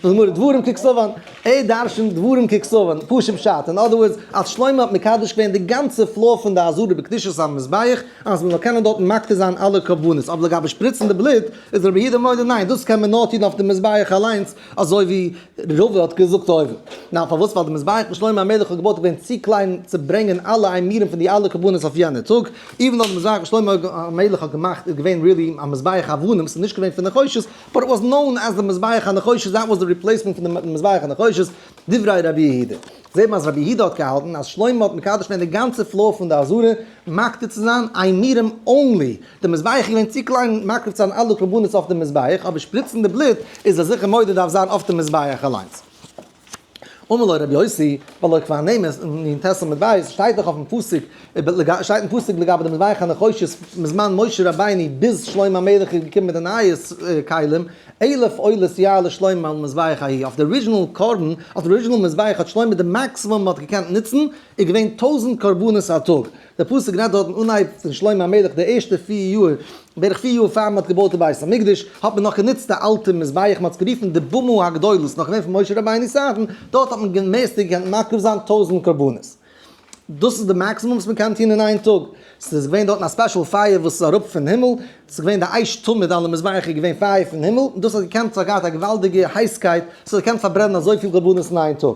[SPEAKER 1] גמרא, דברים ככתבן, ע ה דרשן דברים ככתבן, פשוט פשט, אין אדער ווארדס, אז שלמה האט מקדש געווען די גאנצע פלאר פון די עזרה בקדושת המזבח, אז מען זאל קענען דארטן מקריב זיין אלע קרבנות, אבער לגבי שפריצן די בלוט, איז רבי יהודה מודה, ניין, דאס קען מען נאר טון אויף די מזבח אליינס, אזוי ווי ר ר האט געזאגט אויבן. ניין, פארוואס? ווייל די מזבח וואס שלמה המלך האט געבויט איז געווען צו קליין צו ברענגען אלע איימירן פון די אלע קרבנות אויף יענע טאג, איבן דאך די מזבח וואס שלמה המלך האט געמאכט איז געווען ריעלי א מזבח אבנים, ס'איז נישט געווען פון נחושת, באט איט וואס נאון עז די מזבח הנחושת דעט וואס די ריפלעיסמענט פון די מזבח הנחושת, דברי רבי יהודה, זעט מען אז רבי יהודה האט געהאלטן אז שלמה האט מקדש געווען די גאנצע פלאר פון די עזרה מקטיר צו זיין איין נירם אנלי, די מזבח איז געווען צו קליין מקריב צו זיין אלע קרבנות אויף די מזבח, אבער שפריצן די בלוט איז ער זיכער מודה דארף זיין אויף די מזבח אליינס. אמר לו רבי יוסי, ולא כבר נמס, און אין תס' עמוד ב' שטייט דאך אויפן פסוק, שטייט אין פסוק לגבי די מזבח הנחושת מזמן משה רבינו ביז שלמה המלך איז געקומען מיט די נייע כלים, אלף עולות יער לשלמה על מזבח ההיא, אויף די ארידזשינעל קרבן, אויף די ארידזשינעל מזבח האט שלמה די מאקסימום מען האט געקענט נוצן איז געווען טויזנט קרבנות א טאג, דער פסוק רעדט דארטן אנהייב פון שלמה המלך די ערשטע פיר יאר, בערך פיר יאר פאר מען האט געבויט די בית המקדש, האט מען נאך גענוצט די אלטע מזבח, מען האט עס גערופן די במה הגדולה, ס'איז נאך געווען פון משה רבינו'ס צייטן, דארט האט מען די מערסטע געקענט מקריב זיין טויזנט קרבנות. דאס איז די מאקסימום וואס מען קען טון אין איין טאג, ס'איז געווען דארטן א ספעשל פייער וואס איז אראפ פון הימל, ס'איז געווען די אש תמיד על המזבח איז געווען פייער פון הימל, און דאס האט געקענט, ס'האט געהאט א געוואלדיגע הייסקייט, ס'האט געקענט פארברענען אזויפיל קרבנות אין איין טאג.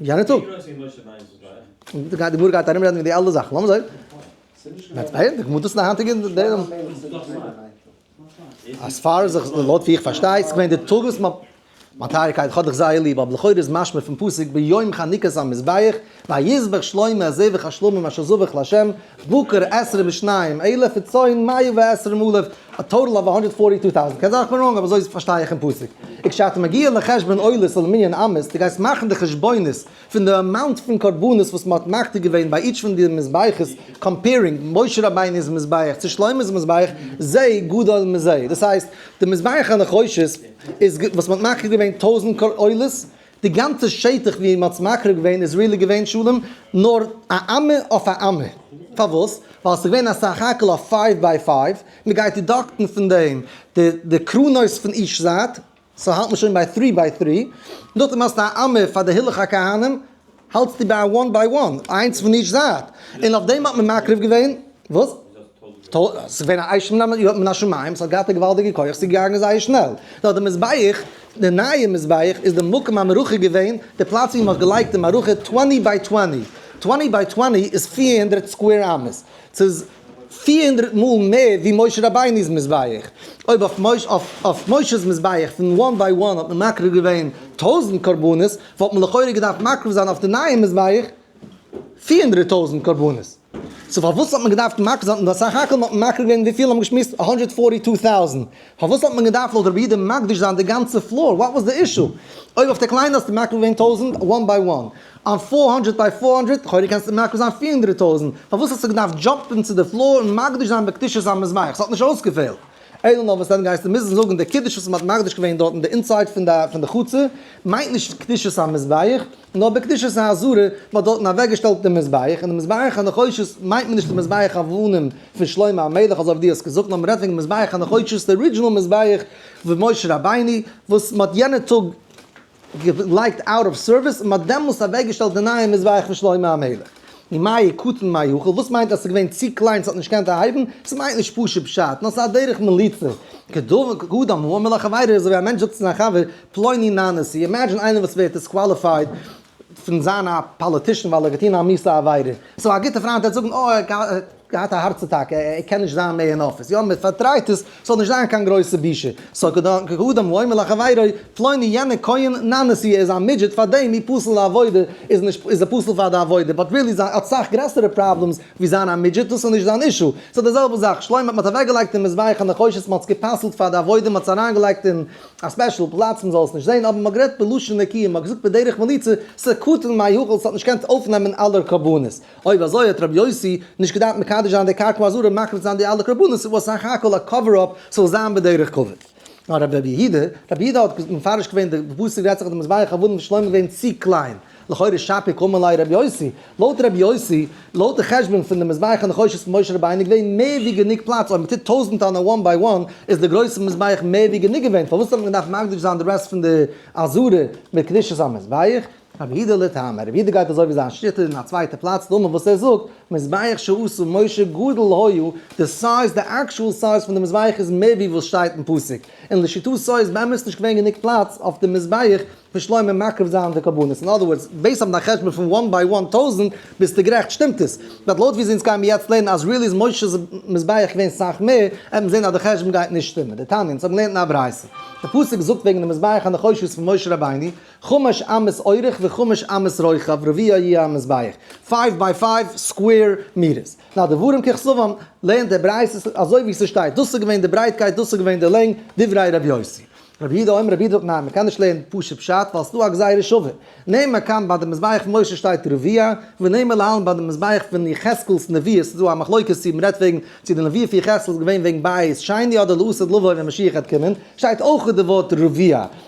[SPEAKER 1] יענע טאג. די גמרא גייט ארום רעדן וועגן די אלע זאכן, לאמיר זען. מיינט ווייל די גמרא טוט עס אין א היינטיגע דעם. עס פאר זיך לויט ווי איך פארשטיי איז געווען די טאג וואס מ'האט מיין טייערע קייט כ'האב דיך זייער ליב אבער לכאורה איז משמע פון פסוק ביום חנוכת המזבח ויזבח שלמה זבח השלמים אשר זבח לה' בקר עשרה משניים אלף וצאן מאה ועשרים אלף א טאטעל אוו הונדערט פארטי טו טאוזענד, קען זיין איך בין ראנג אבער אזוי פארשטיי איך אין פסוק, וכשאתה מגיע לחשבון עולות על מנין אמות, דו גייסט מאכן די חשבונות פון די אמאונט פון קרבנות וואס מ'האט מקריב געווען ביי איטש פון די מזבחות, קאמפעירינג משה רבינו'ס מזבח צו שלמה'ס מזבח, זה גדול מזה, דאס הייסט די מזבח הנחושת איז וואס מ'האט מקריב געווען טויזענט עולות, די גאנצע שטח ווי מ'האט עס מקריב געווען איז ריעלי געווען שלום נאר א אמה אויף א אמה. פארוואס? ווייל ס'איז געווען א סך הכל א פייוו ביי פייוו, מ'גייט דידאקטן פון דעם די די קרנות פון איטש זייט, סאו האלט מען שוין ביי טרי ביי טרי, נאכדעם האסטו א אמה פאר די הילוך הכהנים, האלטסטו ביי א וואן ביי וואן, איינס פון איטש זייט, און אויף דעם האט מען מקריב געווען, וואס? ס'איז געווען א אייז שמלמל יו ט מן השמים, ס'האט געהאט א געוואלדיגע כח, ס'איז געגאנגען זייער שנעל. נאר די מזבח, די נייע מזבח איז די מקום המערכה געווען, די פלאץ ווי מ'האט געלייגט די מערכה, טוועני ביי טוועני, טוועני ביי טוועני איז פֿיר הונדערט סקווער אמות, ס'איז פֿיר הונדערט מאל מער ווי משה רבינו'ס מזבח. אויב אויף משה'ס מזבח פון וואן ביי וואן האט מען מקריב געווען טויזנט קרבנות, וואלט מען לכאורה געדארפט מקריב זיין אויף די נייע מזבח פֿיר הונדערט טויזנט קרבנות. סאו פארוואס האט מען געדארפט מקל זיין און סך הכל האט מען מקל געווען וויפיל האבן געשמועסט הונדערט פֿארטי טו טאוזענט פארוואס האט מען געדארפט לויט רבי אידה מקדיש זיין די גאנצע פלאר וואט וואס די אישו אויב אויף די קליינע האסטו מקל געווען טויזענט וואן ביי וואן אן פֿיר הונדערט ביי פֿיר הונדערט לכאורה קענסטו מקל זיין פֿיר הונדערט טויזענט פארוואס האסטו געדארפט דזשאמפן צו די פלאר און מקדיש זיין בקדושת המזבח ס'האט נישט אויסגעפעלט. אלא נאר וואס דען גייסטו מוזן זאגן די קידוש וואס מען האט מקדיש געווען דארטן די אינסייד פון די פון די חצר מיינט נישט קדושת המזבח נאר בקדושת העזרה מען האט דארטן אוועק געשטעלט די מזבח און די מזבח הנחושת מיינט מען נישט די מזבח אבנים פון שלמה המלך אזוי ווי דו האסט געזאגט נאר מען רעדט וועגן מזבח הנחושת די ארידזשינעל מזבח פון משה רבינו וואס מען האט יענע טאג געלייגט אוט אוו סערוויס און מען האט דעמאלס אוועקגעשטעלט די נייע מזבח פון שלמה המלך. און מאי קטן מאי יכול, וואס מיינט אז עס איז געווען צו קליין עס האט נישט געקענט אהייבן? עס מיינט נישט פשוט פשט, נאר עס איז א דרך מליצה, כדברי קדם האומר לחבירו, אזוי ווי א מענטש זאגט צו זיין חבר, פלוני נא נשיא, אימעדזשין איינער וואס ווערט דיסקוואליפייד פון זיין א פאליטישן ווייל ער האט געטון א מיסע עבירה, סאו א גוטע פריינט וועט זאגן, אוי ער האט געהאט. געהאט א הארץ אטאקע, ער קען נישט זיין מער אין אפיס, יא מען פארטרייט עס, ס'זאל נישט זיין קיין גרויסע בושה, סא כאדם ואומר לחבירו, פלוני יענער כהן ננסי ער איז א מידזשעט פאר דעם אי פסול לעבודה, איז נישט איז ער פסול פאר די עבודה, באט רילי זיין האט סאך גרעסערע פראבלעמס ווי זיין א מידזשעט, דאס איז נישט זיין אישו, סא די זעלבע זאך, שלמה מען האט אוועק געלייגט אין מזבח הנחושת מען האט עס געפסל'ט פאר די עבודה מען האט עס אריין געלייגט אין א ספעשל פלאץ מען זאל עס נישט זען, אבער מען האט גערעדט בלשון נקיה מען האט געזאגט בדרך מליצה, ס'קטן מהיכל ס'האט נישט געקענט אויפנעמען אלע קרבנות. אויב אזוי האט רבי יוסי נישט געדארפט מקדש זיין די קרקע אזור און מקריב זיין די אלע קרבנות, ס'איז וואס סך הכל א קאווער אפ ס'זאל זיין בדרך כבוד. נאר רבי רבי יהודה, רבי יהודה האט מפרש געווען די פסוק רעדט זיך אז די מזבח עבדים פון שלמה איז געווען צו קליין, לכאורה שפיק המה ליה רבי יוסי, לויט רבי יוסי, לויט די חשבון פון די מזבח הנחושת פון משה רבינו איז געווען מער ווי גענוג פלאץ, אויב מ'טוט טויזנט טאנער וואן ביי וואן איז די גרויסע מזבח מער ווי גענוג געווען, פארוואס האט מען געדארפט מקדיש זיין די רעסט פון די עזרה מיט קדושת המזבח? רבי אידא לטעמא, רבי אידא גייט אזוי ווי זיין שטעטל אין א צווייטע פלאץ, דאמר וואס ער זאגט, מזבח שעשו משה גדול היו, די סייז די עקשועל סייז פון די מזבח איז מער ווי וואס שטייט אין פסוק, און לשיטתו איז באמת נישט געווען גענוג פלאץ אויף די מזבח פון שלמה מקריב זיין די קרבנות, אין אדער ווארדס, בעיסד אויף דיין חשבון פון וואן ביי וואן טויזענט ביסטו גערעכט שטימט עס, באט לויט ווי אונז גיימיר יעצט לערנען אז ריעלי איז מושה'ס מזבח געווען סאך מער, העט מען זען אז די חשבון גייט נישט שטימען, די תניא, אונז האבן געלערנט אין א ברייתא, די פסוק זאגט וועגן די מזבח הנחושת פון משה רבינו, חומש אמת אורך וחומש אמת רוחב רביע יהיה המזבח, פייוו ביי פייוו סקווער מיטערס. נאר דברים ככתבם, לערנט דער ברייתא אזוי ווי ס'שטייט, דאס איז געווען די ברייטקייט, דאס איז געווען די לענג, דברי רבי יוסי. רבי יהודה אומר, רבי יהודה זאגט ניין, מ'קען נישט לערנען פשוט פשט, ווייל ס'דא א גזירה שווה. נעמה כאן ביי די מזבח משה שטייט רביע, ונעמה להלן ביי די מזבח פון יחזקאל'ס נביאות, ס'איז דא א מחלוקת צו מ'רעדט וועגן צו די נביאות פון יחזקאל איז געווען וועגן בית שני אדער לעתיד לבוא ווען משיח העט קומען, שטייט אויך די ווארט רביע.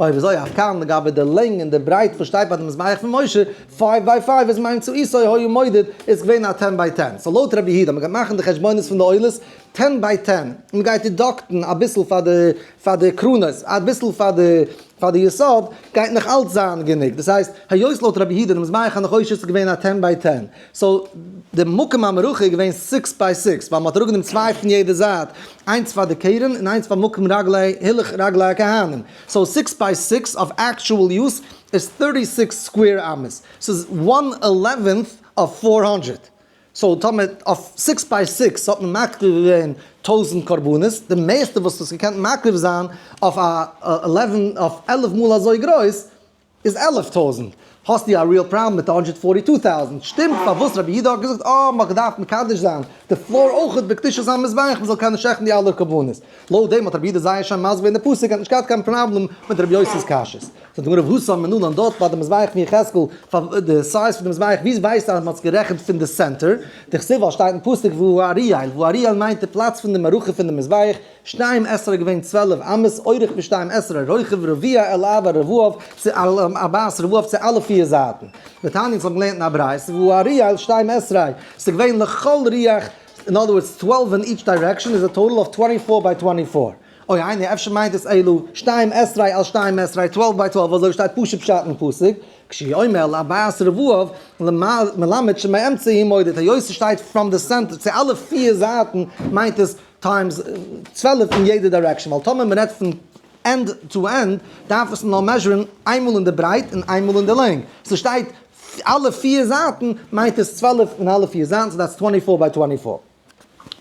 [SPEAKER 1] אוי וויאזוי אויף כאן לגבי די לענג און די ברייט וואס שטייט ביי די מזבח פון משה, פייוו ביי פייוו איז מיינט צו איסור היה מודד איז געווען א טען ביי טען, סאו לויט רבי יהודה מ'גייט מאכן די חשבונות פון די עולות טען ביי טען, מ'גייט דידאקטן אביסל פאר די פאר די קרנות אביסל פאר די פאר די יסוד גייט נאך אלץ זיין גענוג, דאס הייסט היות לויט רבי יהודה די מזבח הנחושת איז געווען א טען ביי טען. סאו די מקום המערכה איז געווען סיקס ביי סיקס ווייל מען האט אראפגענומען צוויי פון יעדע זייט איינס פאר די קרן און איינס פאר מקום רגלי הילוך רגלי הכהנים סאו סיקס ביי סיקס אויף עקטשועל יוז איז טערטי סיקס סקווער אמות סאיז וואן עלעווענט אויף פאר הונדרעט סאו טאמער אויף סיקס ביי סיקס האט מען מקריב געווען טויזענט קרבנות די מערסטע וואס האסט געקענט מקריב זיין אויף א עלעווען אויף עלף מאל אזוי גרויס איז עלף טויזענט, האסטו א ריעל פראבלעם מיט די הונדרעט פארטי טו טאוזענט, שטימט פארוואס רבי יהודה האט געזאגט אה מ'האט געדארפט מקדש זיין די פלאר אויכעט בקדושת המזבח מ'זאל קענען שעכטן די אלע קרבנות, לויט דעם האט רבי יהודה זייער שיין מסביר געווען די פסוק האט נישט געהאט קיין פראבלעם מיט רבי יוסי'ס קשיות. זאגט די גמרא וואס האבן מיר נאדאנט דארט ביי די מזבח פון יחזקאל פאר די סייז פון די מזבח ווי ווייסטו אז מ'האט עס גערעכנט פון די סענטער די כסוף ווייל שטייט אין פסוק והוא אריאל והוא אריאל מיינט די פלאץ פון די מערכה פון די מזבח שתים עשרה געווען צוועלף אמות אורך ווי שתים עשרה רוחב רביע אל ארבע רבעו צו ארבעת רבעו צו אלע פיר זייטן ותענית אונז האבן געלערנט אין א ברייתא והוא ארי' אל שתים עשרה ס'איז געווען לכל רוח אין אדער ווארדס טוועלף אין איטש דיירעקשאן איז א טאטאל אויף טווענטי פאר ביי טווענטי פאר אוי איינער אפשר מיינט עס אלו שתים עשרה אל שתים עשרה טוועלף ביי טוועלף אזוי שטייט פשוט פשט אין פסוק כשהיא אומר אל ארבעת רבעו מלמד שמאמצע היא מודד היות ס'שטייט פראם די סענטער צו אלע פיר זייטן מיינט עס טיימס צוועלף אין יעדע דירעקשאן ווייל טאמער מען רעדט פון ענד טו ענד דארף עס נאר מעזשערן איינמאל אין די ברייט און איינמאל אין די לענג סאו ס'שטייט אלע פיר זייטן מיינט עס צוועלף אין אלע פיר זייטן סאו דעטס טווענטי פאר ביי טווענטי פאר.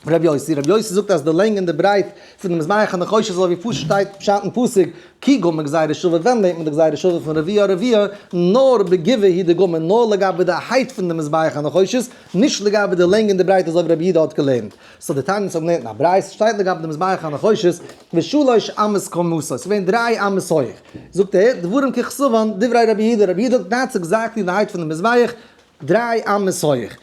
[SPEAKER 1] ר' יוסי ר' יוסי זאגט אז די לענג און די ברייט פון די מזבח הנחושת איז אזויווי פשוט שטייט פשט אין פסוק כי גמר גזירה שווה ווען לערנט מען די גזירה שווה פון רביע הרביע נאר בגבעה היא די גמר נאר לגבי די הייט פון די מזבח הנחושת נישט לגבי די לענג און די ברייט אזויווי רבי יהודה האט געלערנט סאו די תניא האבן געלערנט אין א ברייתא, ס'שטייט לגבי די מזבח הנחושת, ושלש אמות כמותו, ס'איז געווען דריי אמות הויעך, זאגט ער, דברים ככסאוון דברי רבי יהודה, רבי יהודה האט געטענהט ס'איז געזייגט אין די הייט פון די מזבח דריי אמות הויעך,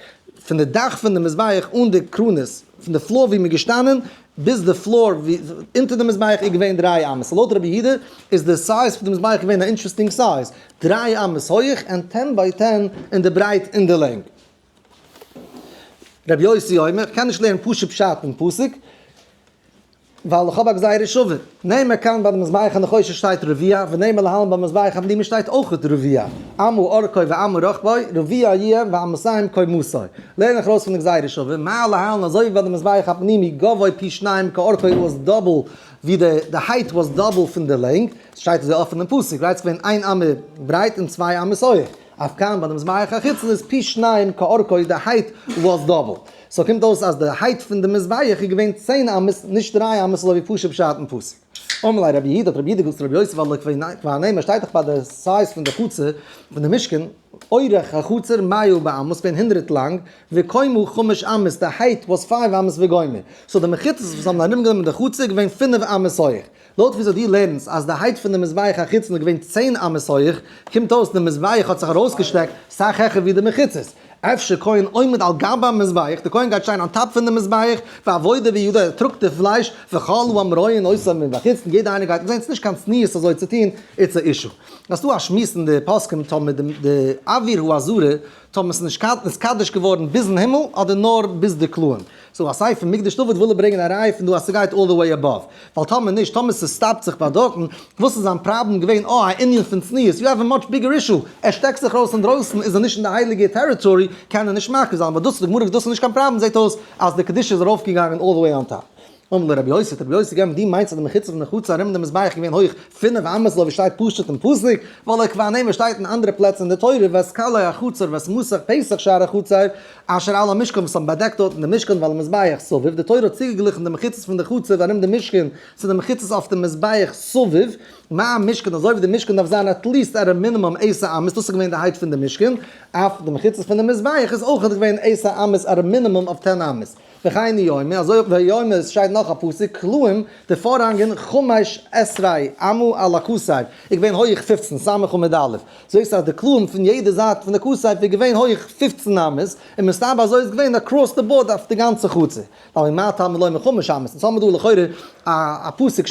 [SPEAKER 1] פון די דאך פון די מזבח אן די קרנות, פון די פלאר ווי מ'איז געשטאנען ביז די פלאר ווי אונטער די מזבח איז געווען דריי אמות, סאו לויט רבי יהודה איז די סייז פון די מזבח געווען א אינטרעסטינג סייז, דריי אמות הויעך ענד טען ביי טען אין די ברייט און די לענג. רבי יוסי אומר, איך קען נישט לערנען פשוט פשט אין פסוק, ווייל איך האב א גזירה שווה. נעמה כאן ביי די מזבח הנחושת שטייט רביע, ונעמה להלן ביי מזבח הבלימה שטייט אויכעט רביע. אמו אורכו ואמו רוחבו, רביע איהם ואמותיהם כמותו. לערן איך ארויס פון די גזירה שווה, מהר להלן אזוי ווי ביי די מזבח הפנימי גבוה פי שניים כאורכו וואס איז דאבל ווי די די הייט וואס איז דאבל פון די לענג, ס'שטייט אזוי אפען אין פסוק, רייט ס'ווען איין אמה ברייט און צוויי אמות הויעך. אויף קארן ביי די מזבח החיצון איז פי שניים כאורכו די הייט וואס דאבל, סאו קומט אויס אז די הייט פון די מזבח איז געווען צען אמות נישט דרײַ אמות לויט ווי פשוט פשט אין פסוק. אמלי רבי איד, האט רבי איד געזאגט צו רבי יוסף אלא כבעיני מ'שטייט דאך ביי די סייז פון די חצר פון די משכן, אורך החצר מאה באמות פין הונדרעט לאנג, וקומו חמש אמות די הייט וואס פייוו אמות וגומר, סאו די מחיצות וואס האבן ארום גענומען די חצר איז געווען פינף אמות הויך, לויט וויאזוי דו לערנסט אז די הייט פון די מזבח החיצון איז געווען צען אמות הויעך, קומט אויס די מזבח האט זיך ארויסגעשטרעקט סאך העכער ווי די מחיצות. אפשר כהן עומד על גב המזבח, די כהן גייט שטיין אן טאפ פון די מזבח, ועבודה וידו, ער טראגט די פלייש, וכל העם רואים אויס און בחוצן, יעדער איינער גייט עס זען, ס'איז נישט קיין צניעות אזוי צו טון, איטס א אישו. אז ס'דא א שמועס אין די פוסקים טאמער די די אוויר האזהרה טאמער ס'איז נישט קדוש געווארן ביזן הימל אדער נאר ביז די כלאים. סאו א סייט פון מקדש דוד וויל ער ברענגען א ראי' פון דא אז ס'גייט אלל די וועי עבאוו, ווייל טאמער נישט, טאמער ס'סטאפט זיך ביי דארטן, וואס איז זיין פראבלעם געווען? אה, א ענין פון צניעות, יו העוו א מאטש ביגער אישו, ער שטעקט זיך ארויס אינדרויסן, איז ער נישט אין די הייליגע טעריטארי, קען ער נישט מקריב זיין, אבער דאס וואס די גמרא זאגט דאס איז נישט קיין פראבלעם, זעהט אויס אז די קדושה איז ארויפגעגאנגען אלל די וועי אן טאפ. אמר לו רבי יוסי, האט רבי יוסי געענטפערט, דו מיינסט אז די מחיצה פון די חצר ארום די מזבח איז געווען הויך פינף אמות לוי ווי שטייט פשטות אין פסוק, ווייל עקבא נעמי שטייט אין אנדערע פלעצער אין די תורה ואת כלי החצר ואת מוסך פסח שער החצר, אשר על המשכן וואס האבן באדעקט דארטן דעם משכן ועל המזבח סביב, די תורה האט צוגעגליכן די מחיצות פון די חצר ארום דעם משכן צו די מחיצות אויף דעם מזבח סביב, מה המשכן אזוי ווי די משכן דארף זיין עטליעסט עט א מינימום עשר אמות דאס איז געווען די הייט פון די משכן, אויף די מחיצות פון די מזבח איז אויכעט געווען עשר אמות עט א מינימום אויף טען אמות. וכהנה יומא, אזוי אויך ביי יומא עס שטייט נאך א פסוק, כלאים, די פארהאנגען, חמש עשריי אמה על הכסף, איז געווען הויעך פֿופֿצן ס' און מיט א', זעהסט אז די כלאים פון יעדע זייט פון די כסף איז געווען הויעך פֿופֿצן אמות, און מסתבר אזוי איז געווען אקראס די באורד אויף די גאנצע חצר, ווייל ממאי טעמא לומר חמש אמות, אונז האמיר דא לכאורה א פסוק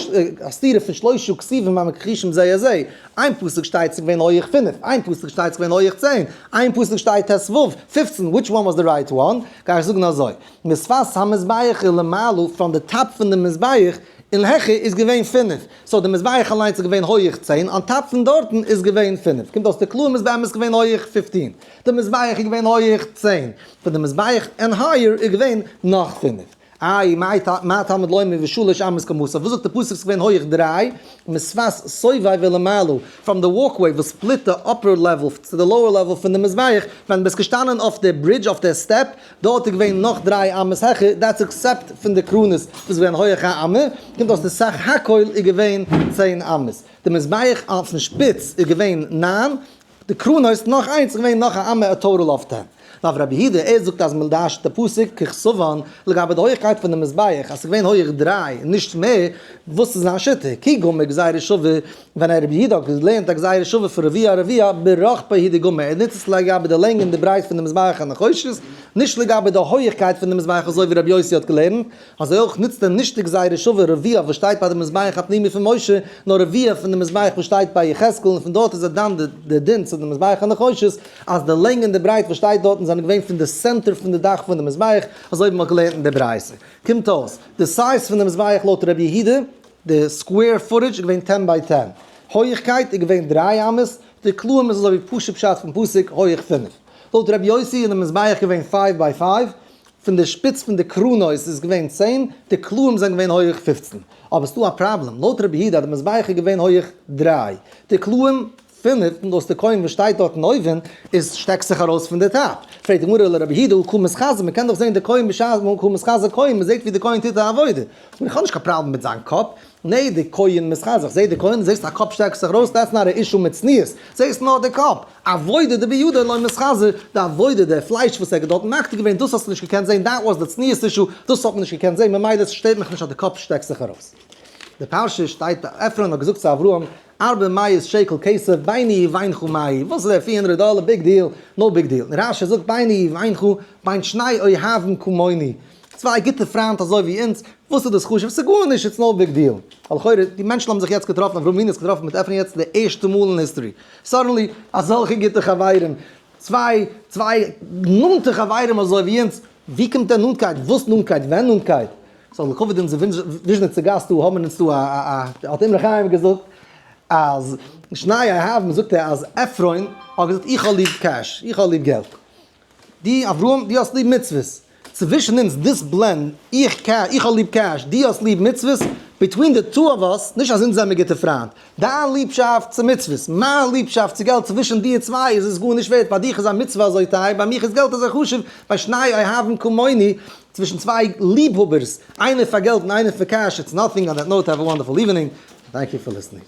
[SPEAKER 1] א סתירה פון שלושה כספים המכחישים זה את זה, איין פסוק שטייט ס'געווען הויעך פֿינף, איין פסוק שטייט ס'געווען הויעך צען, איין פסוק שטייט ת ו פֿופֿצן, וויטש וואן וואס די רייט וואן? גיי איך זאגן אזוי, משפת המזבח איז למעלה פראם די טאפ פון די מזבח און העכער איז געווען פֿינף, סאו די מזבח אליינס איז געווען הויעך צען אן טאפ פון דארטן איז געווען פֿינף, קומט אויס די קלעים איז באמת געווען הויעך פֿופֿצן, די מזבח איז געווען הויעך צען, פון די מזבח ענד הייער איז געווען נאך פֿינף. איי מה תלמוד לומר ושלש אמות כמותו, וואס זאגט די פסוק ס'איז געווען הויעך דריי מצוות סביב ולמעלה, פראם די וואלק וועי וואס ספליט די אפער לעוועל צו די לאוער לעוועל פון די מזבח, ווען די ביסט געשטאנען אויף די ברידזש אויף די סטעפ, דארט איז געווען נאך דריי אמות העכער, דעטס עקסעפט פון די קרנות וואס איז געווען הויעך א אמה, קומט אויס די סך הכל איז געווען צען אמות. די מזבח אויפן שפיץ איז געווען נײַן. די קראן הויז נאך איינס איז געווען נאך א אמה ע טארל אויף דעם. נאר רבי יהודה ער זאגט אז מען דרש'ט די פסוק ככסובן לגבי די הויכקייט פון די מזבח אז ס'איז געווען הויעך דריי נישט מער, וואס איז זיין שיטה? כי גמר גזירה שווה ווען א רבי יהודה האט געלערנט א גזירה שווה פון רביע הרביע ברחפי הידי גמר ער נוצט עס לגבי די לענג און די ברייט פון די מזבח הנחושת נישט לגבי די הויעכקייט פון די מזבח אזוי ווי רבי יוסי האט געלערנט אזוי אויך נוצט ער נישט די גזירה שווה רביע וואס שטייט ביי די מזבח הפנימי פון משה, נאר רביע פון די מזבח וואס שטייט ביי יחזקאל, און פון דארט איז ער דן די דין צו די מזבח הנחושת, אז די לענג און די ברייט וואס שטייט דארטן זענען געווען פון די סענטער פון די דאך פון די מזבח, אזוי ווי מען האט געלערנט אין די ברייתא. קומט אויס, די סייז פון די מזבח לויט רבי יהודה, די סקווער פוטעדזש איז געווען טען ביי טען, הויעכקייט איז געווען דריי אמות, די קלעים איז אזוי ווי פשוט פשט פון פסוק הויעך פינף. לויט רבי יוסי איז די מזבח געווען פייוו ביי פייוו, פון די שפיץ פון די קרנות איז געווען צען, די קלעים זענען געווען הויעך פֿופֿצן. אבער ס'דא א פראבלעם, לויט רבי יהודה אז די מזבח איז געווען הויעך דריי, די קלעים פֿינף, און דאס תיקון וואס שטייט דארטן אויבן איז שטעקט זיך ארויס פון די טאפ. פרעגט די גמרא לרבי יהודה הוא קומות חזו, מ'קען דאך זען די קלעים בשעת הוא קומות חזו קוים, מ'זעט ווי די כהן טוט א עבודה. איך האב נישט קיין פראבלעם מיט זיין קאפ, נע די כהן מיז חזק זעהט די כהן זעהסט א קאפ שטעקסט זיך ארויס דעטס נאט א אישו מיט צניעות זעהסט נאר די קאפ עבודה די בידו לא מיז חזק די עבודה די פלייש וואס ער האט דארט מקטיר געווען דאס האסטו נישט געקענט זעהן דעט וואס די צניעות אישו דאס האט מען נישט געקענט זעהן ממילא סשטערט מיך נישט אז די קאפ שטעקסט זיך ארויס די פרשה שטייט עפרון האט געזאגט צו אברהם ארבע מאות שקל כסף ביני ובינך מאי וואס איז דער פֿיר הונדרעט דאלער ביג דיל נאו ביג דיל רשי זאגט ביני ובינך בין שני אוהבים כמוני צוויי גוטע פריינט אזוי ווי אונז, וואס איז דאס חשוב? ס'איז גארנישט, איטס נאו ביג דיעל. א לכאורה, די מענטשן האבן זיך יעצט געטראפן, אברהם אבינו האט זיך געטראפן מיט עפרון יעצט די ערשטע מאל אין היסטארי. סאדענלי אזעלכע גוטע חברים, צוויי צוויי נאנטע חברים אזוי ווי אונז, ווי קומט דער נאנטקייט? וואס נאנטקייט? ווען נאנטקייט? סאו לכבוד אונזער וויזשניצע גאסט דא האבן מיר אונז דא א א האט אמרי חיים געזאגט אז שניי אהבן זאגט ער אז עפרון האט געזאגט איך האב ליב קעש, איך האב ליב געלט. די אברהם די האסט ליב מצוות, צווישן אונז דיספלען, איך קע איך האב ליב קעש, די האסט ליב מצוות, ביטווין די טו אוו אס, נישט אז אונז זעמער גוטע פריינט, דיין ליבשאפט צו מצוות, מיין ליבשאפט צו געלט צווישן די צוויי איז עס גארנישט ווערט, ביי דיך איז א מצוה אזוי טייער, ביי מיך איז געלט אזוי חשוב, ביי שניי אוהבים כמוני, צווישן צוויי ליב האבערס, איינער פאר געלט און איינער פאר קעש, איטס נאטינג אנד דעט נאוט האוו א וואנדערפול איווענינג, טענק יו פאר ליסטענינג.